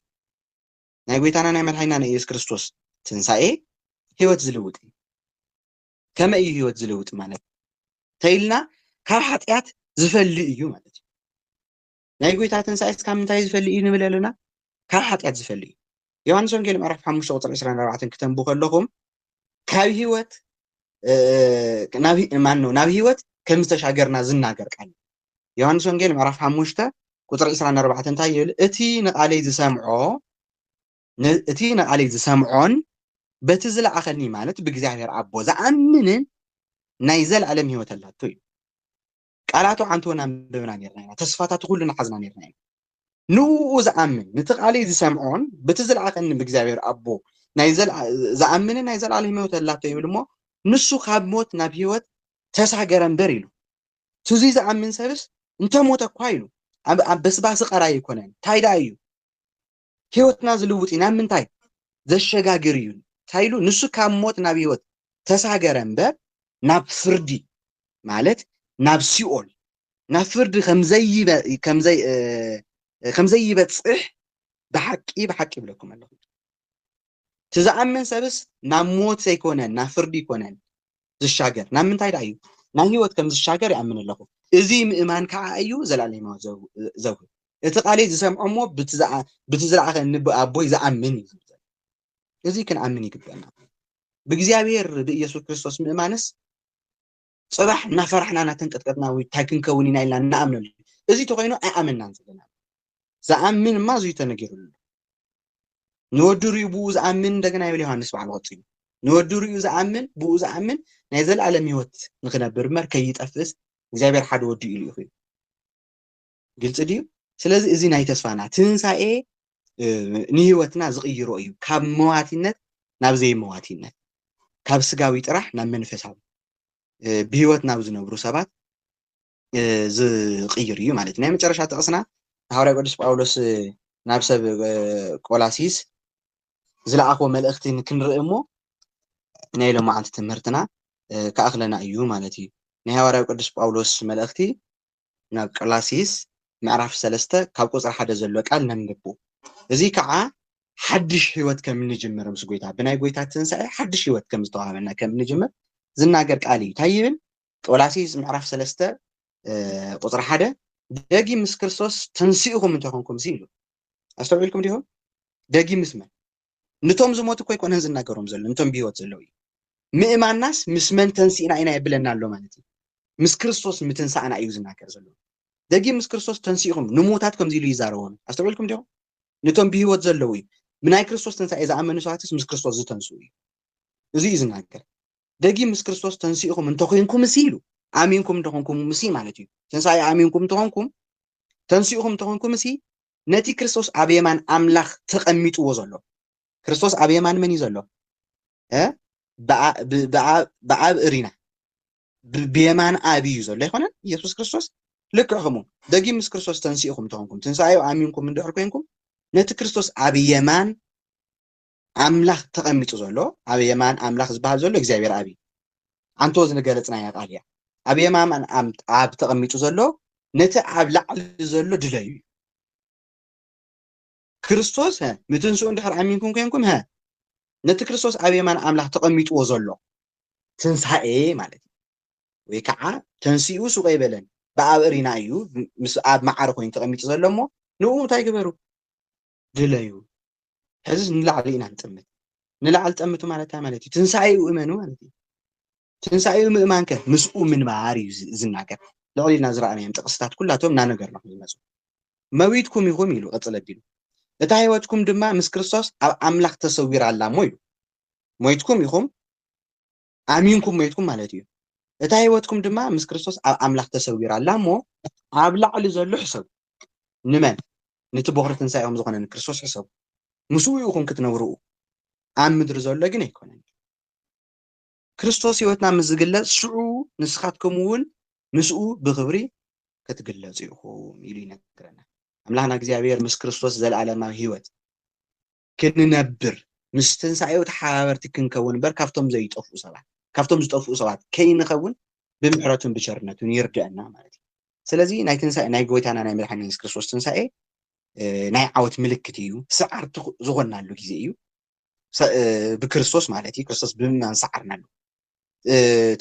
ናይ ጎይታና ናይ መድሓኒና ናይ ኢየሱስ ክርስቶስ ትንሳኤ ህይወት ዝልውጥ እዩ ከመይ እዩ ህይወት ዝልውጥ ማለት ተይልና ካብ ሓጢኣት ዝፈሊ እዩ ማለት እዩ ናይ ጎይታ ትንሳኤስ ካብ ምንታይ ዝፈሊ እዩ ንብል ኣሎና? ካብ ሓጢኣት ዝፈሊ እዩ። ዮሃንስ ወንጌል ምዕራፍ ሓሙሽተ ቁጽሪ ዕስራን ኣርባዕተን ክተንቡ ከለኹም ካብ ህይወት ማነው ናብ ህይወት ከም ዝተሻገርና ዝናገር ቃል ዮሃንስ ወንጌል ምዕራፍ ሓሙሽተ ቁፅሪ ዕስራን ኣርባዕተን እንታይ ይብል እቲ ንቓለይ ዝሰምዖ እቲ ንቓለይ ዝሰምዖን በቲ ዝለኣኸኒ ማለት ብእግዚኣብሔር ኣቦ ዝኣምንን ናይ ዘለኣለም ህይወት ኣላቶ እዩ ቃላቱ ዓንተወን ኣንብብና ነርና ኢና ተስፋታቱ ኩሉ ንሓዝና ነርና ኢና ንኡ ዝኣምን ንቲ ቃል ዝሰምዖን ብቲ ዝለኣኸኒ ብእግዚኣብሔር ኣቦ ዝኣምን ናይ ዘለኣለ ህመወት ኣላቶ ይብል እሞ ንሱ ካብ ሞት ናብ ህይወት ተሳገረ እምበር ኢሉ ትዙ ዝኣምን ሰብስ እንተሞተ እኳ ኢሉ ኣብ በስባሲ ቀራይ ኣይኮነን እንታይ ደኣ እዩ ህይወትና ዝልውጥ እዩ ናብ ምንታይ ዘሸጋግር እዩ እንታይ ኢሉ ንሱ ካብ ሞት ናብ ህይወት ተሳገረ እምበር ናብ ፍርዲ ማለት ናብ ሲኦል ናብ ፍርዲ ከምዘይበፅሕ ብሓቂ ብሓቂ ይብለኩም ኣለኹ እቲ ዝኣምን ሰብስ ናብ ሞት ዘይኮነን ናብ ፍርዲ ይኮነን ዝሻገር ናብ ምንታይ ዳኣ እዩ ናብ ህይወት ከም ዝሻገር ይኣምን ኣለኹ እዚ ምእማን ካዓ እዩ ዘላለማዊ ዘውህብ እቲ ቃለይ ዝሰምዖ እሞ ብቲ ዝለኣኸኒ ብኣቦይ ዝኣምን እዩ ዝብል እዚ ክንኣምን ይግበና ብእግዚኣብሔር ብኢየሱስ ክርስቶስ ምእማንስ ጽባሕ እናፈራሕና እናተንቀጥቀጥና ውይ እንታይ ክንከውን ኢና ኢልና ንኣምነሉ እዚ ተኮይኑ ኣይኣመናን ዘለና ዝኣምን እማ እዙይ ተነጊሩሉ ንወዲ ሪኡ ብኡ ዝኣምን እንደገና ይብል ዮሃንስ በዓል ወፂኡ ንወዲ ሪኡ ዝኣምን ብኡ ዝኣምን ናይ ዘለኣለም ሂወት ንክነብር እምበር ከይጠፍእስ እግዚኣብሔር ሓደ ወዲ ኢሉ ኢኹ ግልፂ ድዩ? ስለዚ እዚ ናይ ተስፋና ትንሳኤ ንህይወትና ዝቕይሮ እዩ፣ ካብ መዋቲነት ናብ ዘይመዋቲነት፣ ካብ ስጋዊ ጥራሕ ናብ መንፈሳዊ ብህይወት ናብ ዝነብሩ ሰባት ዝቕይር እዩ ማለት እዩ። ናይ መጨረሻ ጥቕስና ንሃዋርያ ቅዱስ ጳውሎስ ናብ ሰብ ቆላሲስ ዝለኣኾ መልእኽቲ ክንርኢ እሞ ናይ ሎማዓንቲ ትምህርትና ክኣኽለና እዩ ማለት እዩ። ናይ ሃዋርያ ቅዱስ ጳውሎስ መልእኽቲ ናብ ቀላሲስ ምዕራፍ ሰለስተ ካብ ቁጽሪ ሓደ ዘሎ ቃል ነንብቡ እዚ ከኣ ሓድሽ ሕይወት ከም እንጅምር ምስ ጐይታ ብናይ ጐይታ ትንሣኤ ሓድሽ ሕይወት ከም ዝተዋህበና ከም እንጅምር ዝናገር ቃል እዩ ታይ ይብል ቆላሲስ ምዕራፍ ሰለስተ ቁጽሪ ሓደ ደጊም ምስ ክርስቶስ ተንሲእኹም እንተኾንኩም ሲ ኢሉ ኣስተውዒልኩም ዲኹም ደጊም ምስ መን ንቶም ዝሞቱ እኮ ኣይኮነን ዝናገሮም ዘሎ ንቶም ብሂወት ዘለዉ እዩ ምእማናስ ምስ መን ተንሲእና ኢና የብለና ኣሎ ማለት እዩ ምስ ክርስቶስ ምትንሳእና እዩ ዝናገር ዘሎ ደጊም ምስ ክርስቶስ ተንሲእኹም ንሙዉታት ከምዚ ኢሉ ይዛረቦም ኣስተውዒልኩም ዲኹም ንቶም ብሂወት ዘለዉ እዩ ብናይ ክርስቶስ ትንሳኤ ዝኣመኑ ሰባትስ ምስ ክርስቶስ ዝተንስኡ እዩ እዚ እዩ ዝናገር ደጊም ምስ ክርስቶስ ተንሲእኹም እንተኮይንኩም እሲ ኢሉ ኣሚንኩም እንተኾንኩም ምሲ ማለት እዩ ትንሳኤ ኣሚንኩም እንተኾንኩም ተንሲእኹም እንተኾንኩም እሲ ነቲ ክርስቶስ ኣብ የማን ኣምላኽ ተቐሚጥዎ ዘሎ ክርስቶስ ኣብ የማን መን እዩ ዘሎ እ ብኣ- ብ- ብኣ- ብኣብ እሪና ብ- ብየማን ኣብ እዩ ዘሎ ኣይኮነን ኢየሱስ ክርስቶስ ልክዕ ከምኡ ደጊም ምስ ክርስቶስ ተንሲእኹም ተኾንኩም ትንሳኤኡ ኣሚንኩም እንድሕር ኮንኩም ነቲ ክርስቶስ ኣብ የማን ኣምላኽ ተቐሚጡ ዘሎ ኣብ የማን ኣምላኽ ዝበሃል ዘሎ እግዚኣብሔር ኣብ እዩ ኣንቶ ዝንገለጽናያ ቃል እያ ኣብ የማን ኣብ ተቐሚጡ ዘሎ ነቲ ኣብ ላዕሊ ዘሎ ድለዩ እዩ ክርስቶስ ምትንስኡ እንድሕር ኣሚንኩም ኮንኩም ሀ ነቲ ክርስቶስ ኣብ የማን ኣምላኽ ተቐሚጥዎ ዘሎ ትንሳኤ ማለት እዩ ወይ ከዓ ተንስኡ ሱቀ ይበለን ብኣብ እሪና እዩ ምስ ኣብ መዓር ኮይኑ ተቐሚጡ ዘሎ እሞ ንኡ እንታይ ግበሩ ድለዩ ሕዝስ ንላዕሊ ኢና ንጥምት ንላዕሊ ጠምቱ ማለት እንታይ ማለት እዩ ትንሳኤኡ እመኑ ማለት እዩ ትንሳኤኡ ምእማን ከ ምስኡ ምንባር እዩ ዝናገር ልዕሊ ኢልና ዝረኣናዮም ጥቕስታት ኩላቶም እናነገርና ይመፁ መዊትኩም ኢኹም ኢሉ ቅፅል ኣቢሉ እታ ህይወትኩም ድማ ምስ ክርስቶስ ኣብ ኣምላኽ ተሰዊራ ኣላ እሞ ኢሉ ሞይትኩም ኢኹም ኣሚንኩም ሞይትኩም ማለት እዩ። እታ ህይወትኩም ድማ ምስ ክርስቶስ ኣብ ኣምላኽ ተሰዊራ ኣላ እሞ ኣብ ላዕሊ ዘሎ ሕሰቡ። ንመን? ነቲ ቦኽሪ ትንሳኤኦም ዝኾነ ንክርስቶስ ሕሰቡ። ምስኡ ኢኹም ክትነብሩ፣ ኣብ ምድሪ ዘሎ ግን ኣይኮነን። ክርስቶስ ህይወትና ምስ ዝግለጽ ሽዑ ንስኻትኩም እውን ምስኡ ብኽብሪ ክትግለጹ ኢኹም ኢሉ ይነግረና። ኣምላኽና እግዚኣብሔር ምስ ክርስቶስ ዘለኣለማዊ ህይወት ክንነብር፣ ምስ ትንሳኤኡ ተሓባበርቲ ክንከውን እምበር ካብቶም ዘይጠፍኡ ሰባት፣ ካብቶም ዝጠፍኡ ሰባት ከይንኸውን ብምሕረቱን ብቸርነቱን ይርድኣና ማለት እዩ። ስለዚ ናይ ትንሳኤ ናይ ጎይታና ናይ መድሓኒና የሱስ ክርስቶስ ትንሳኤ ናይ ዓወት ምልክት እዩ፣ ሰዓርቲ ዝኾናሉ ግዜ እዩ። ብክርስቶስ ማለት እዩ፣ ክርስቶስ ብምእማን ሰዓርናሉ፣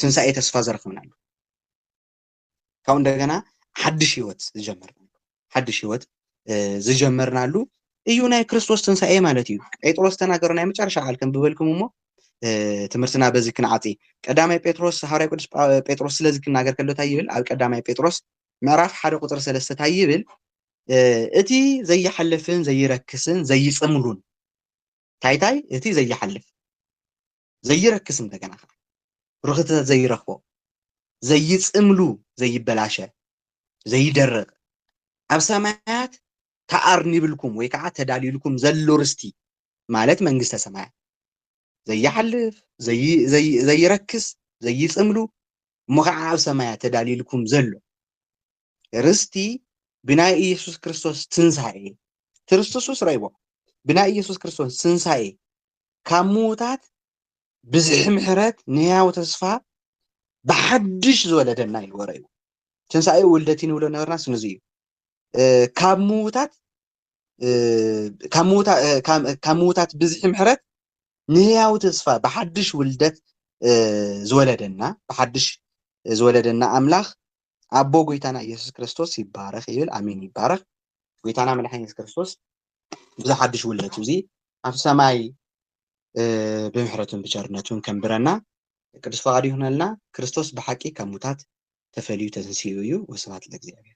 ትንሳኤ ተስፋ ዘረክብናሉ። ካብኡ እንደገና ሓድሽ ህይወት ዝጀመርናሉ ሓድሽ ህይወት ዝጀመርናሉ እዩ ናይ ክርስቶስ ትንሳኤ ማለት እዩ ጴጥሮስ ተናገሩ ናይ መጨረሻ ቃል ክንብበልኩም እሞ ትምህርትና በዚ ክንዓፂ ቀዳማይ ጴጥሮስ ሃዋርያ ቅዱስ ጴጥሮስ ስለዚ ክናገር ከሎ እንታይ ይብል ኣብ ቀዳማይ ጴጥሮስ ምዕራፍ ሓደ ቁፅሪ ሰለስተ እንታይ ይብል እቲ ዘይሓልፍን ዘይረክስን ዘይፅምሉን ታይታይ እቲ ዘይሓልፍ ዘይረክስ እንደገና ከኣ ርኽተ ዘይረኽቦ ዘይጽምሉ ዘይበላሸ ዘይደርቕ ኣብ ሰማያት ተኣርኒብልኩም ወይ ከዓ ተዳልዩልኩም ዘሎ ርስቲ ማለት መንግስተ ሰማያት ዘይሓልፍ ዘይረክስ ዘይጽምሉ እሞ ከዓ ኣብ ሰማያት ተዳልዩልኩም ዘሎ ርስቲ ብናይ ኢየሱስ ክርስቶስ ትንሣኤ ትርስትሱስ ረይቦ ብናይ ኢየሱስ ክርስቶስ ትንሣኤ ካብ ምዉታት ብዝሒ ምሕረት ንሕያው ተስፋ ብሓድሽ ዝወለደና ኢልዎ ረይቦ ትንሣኤ ውልደት ንብሎ ነበርና ስንዙ እዩ ካብ ምዉታት ካብ ምዉታት ብዝሒ ምሕረት ንሕያው ተስፋ ብሓድሽ ውልደት ዝወለደና ብሓድሽ ዝወለደና ኣምላኽ ኣቦ ጎይታና ኢየሱስ ክርስቶስ ይባረኽ ይብል ኣሜን ይባረኽ ጎይታና መድሓኒና ኢየሱስ ክርስቶስ ብዚ ሓድሽ ውለቱ እዚ ኣብ ሰማይ ብምሕረቱን ብቸርነቱን ከንብረና ቅዱስ ፈቃዱ ይኹነልና ክርስቶስ ብሓቂ ካብ ሙታት ተፈልዩ ተንስኡ እዩ ወስብሐት ለእግዚኣብሔር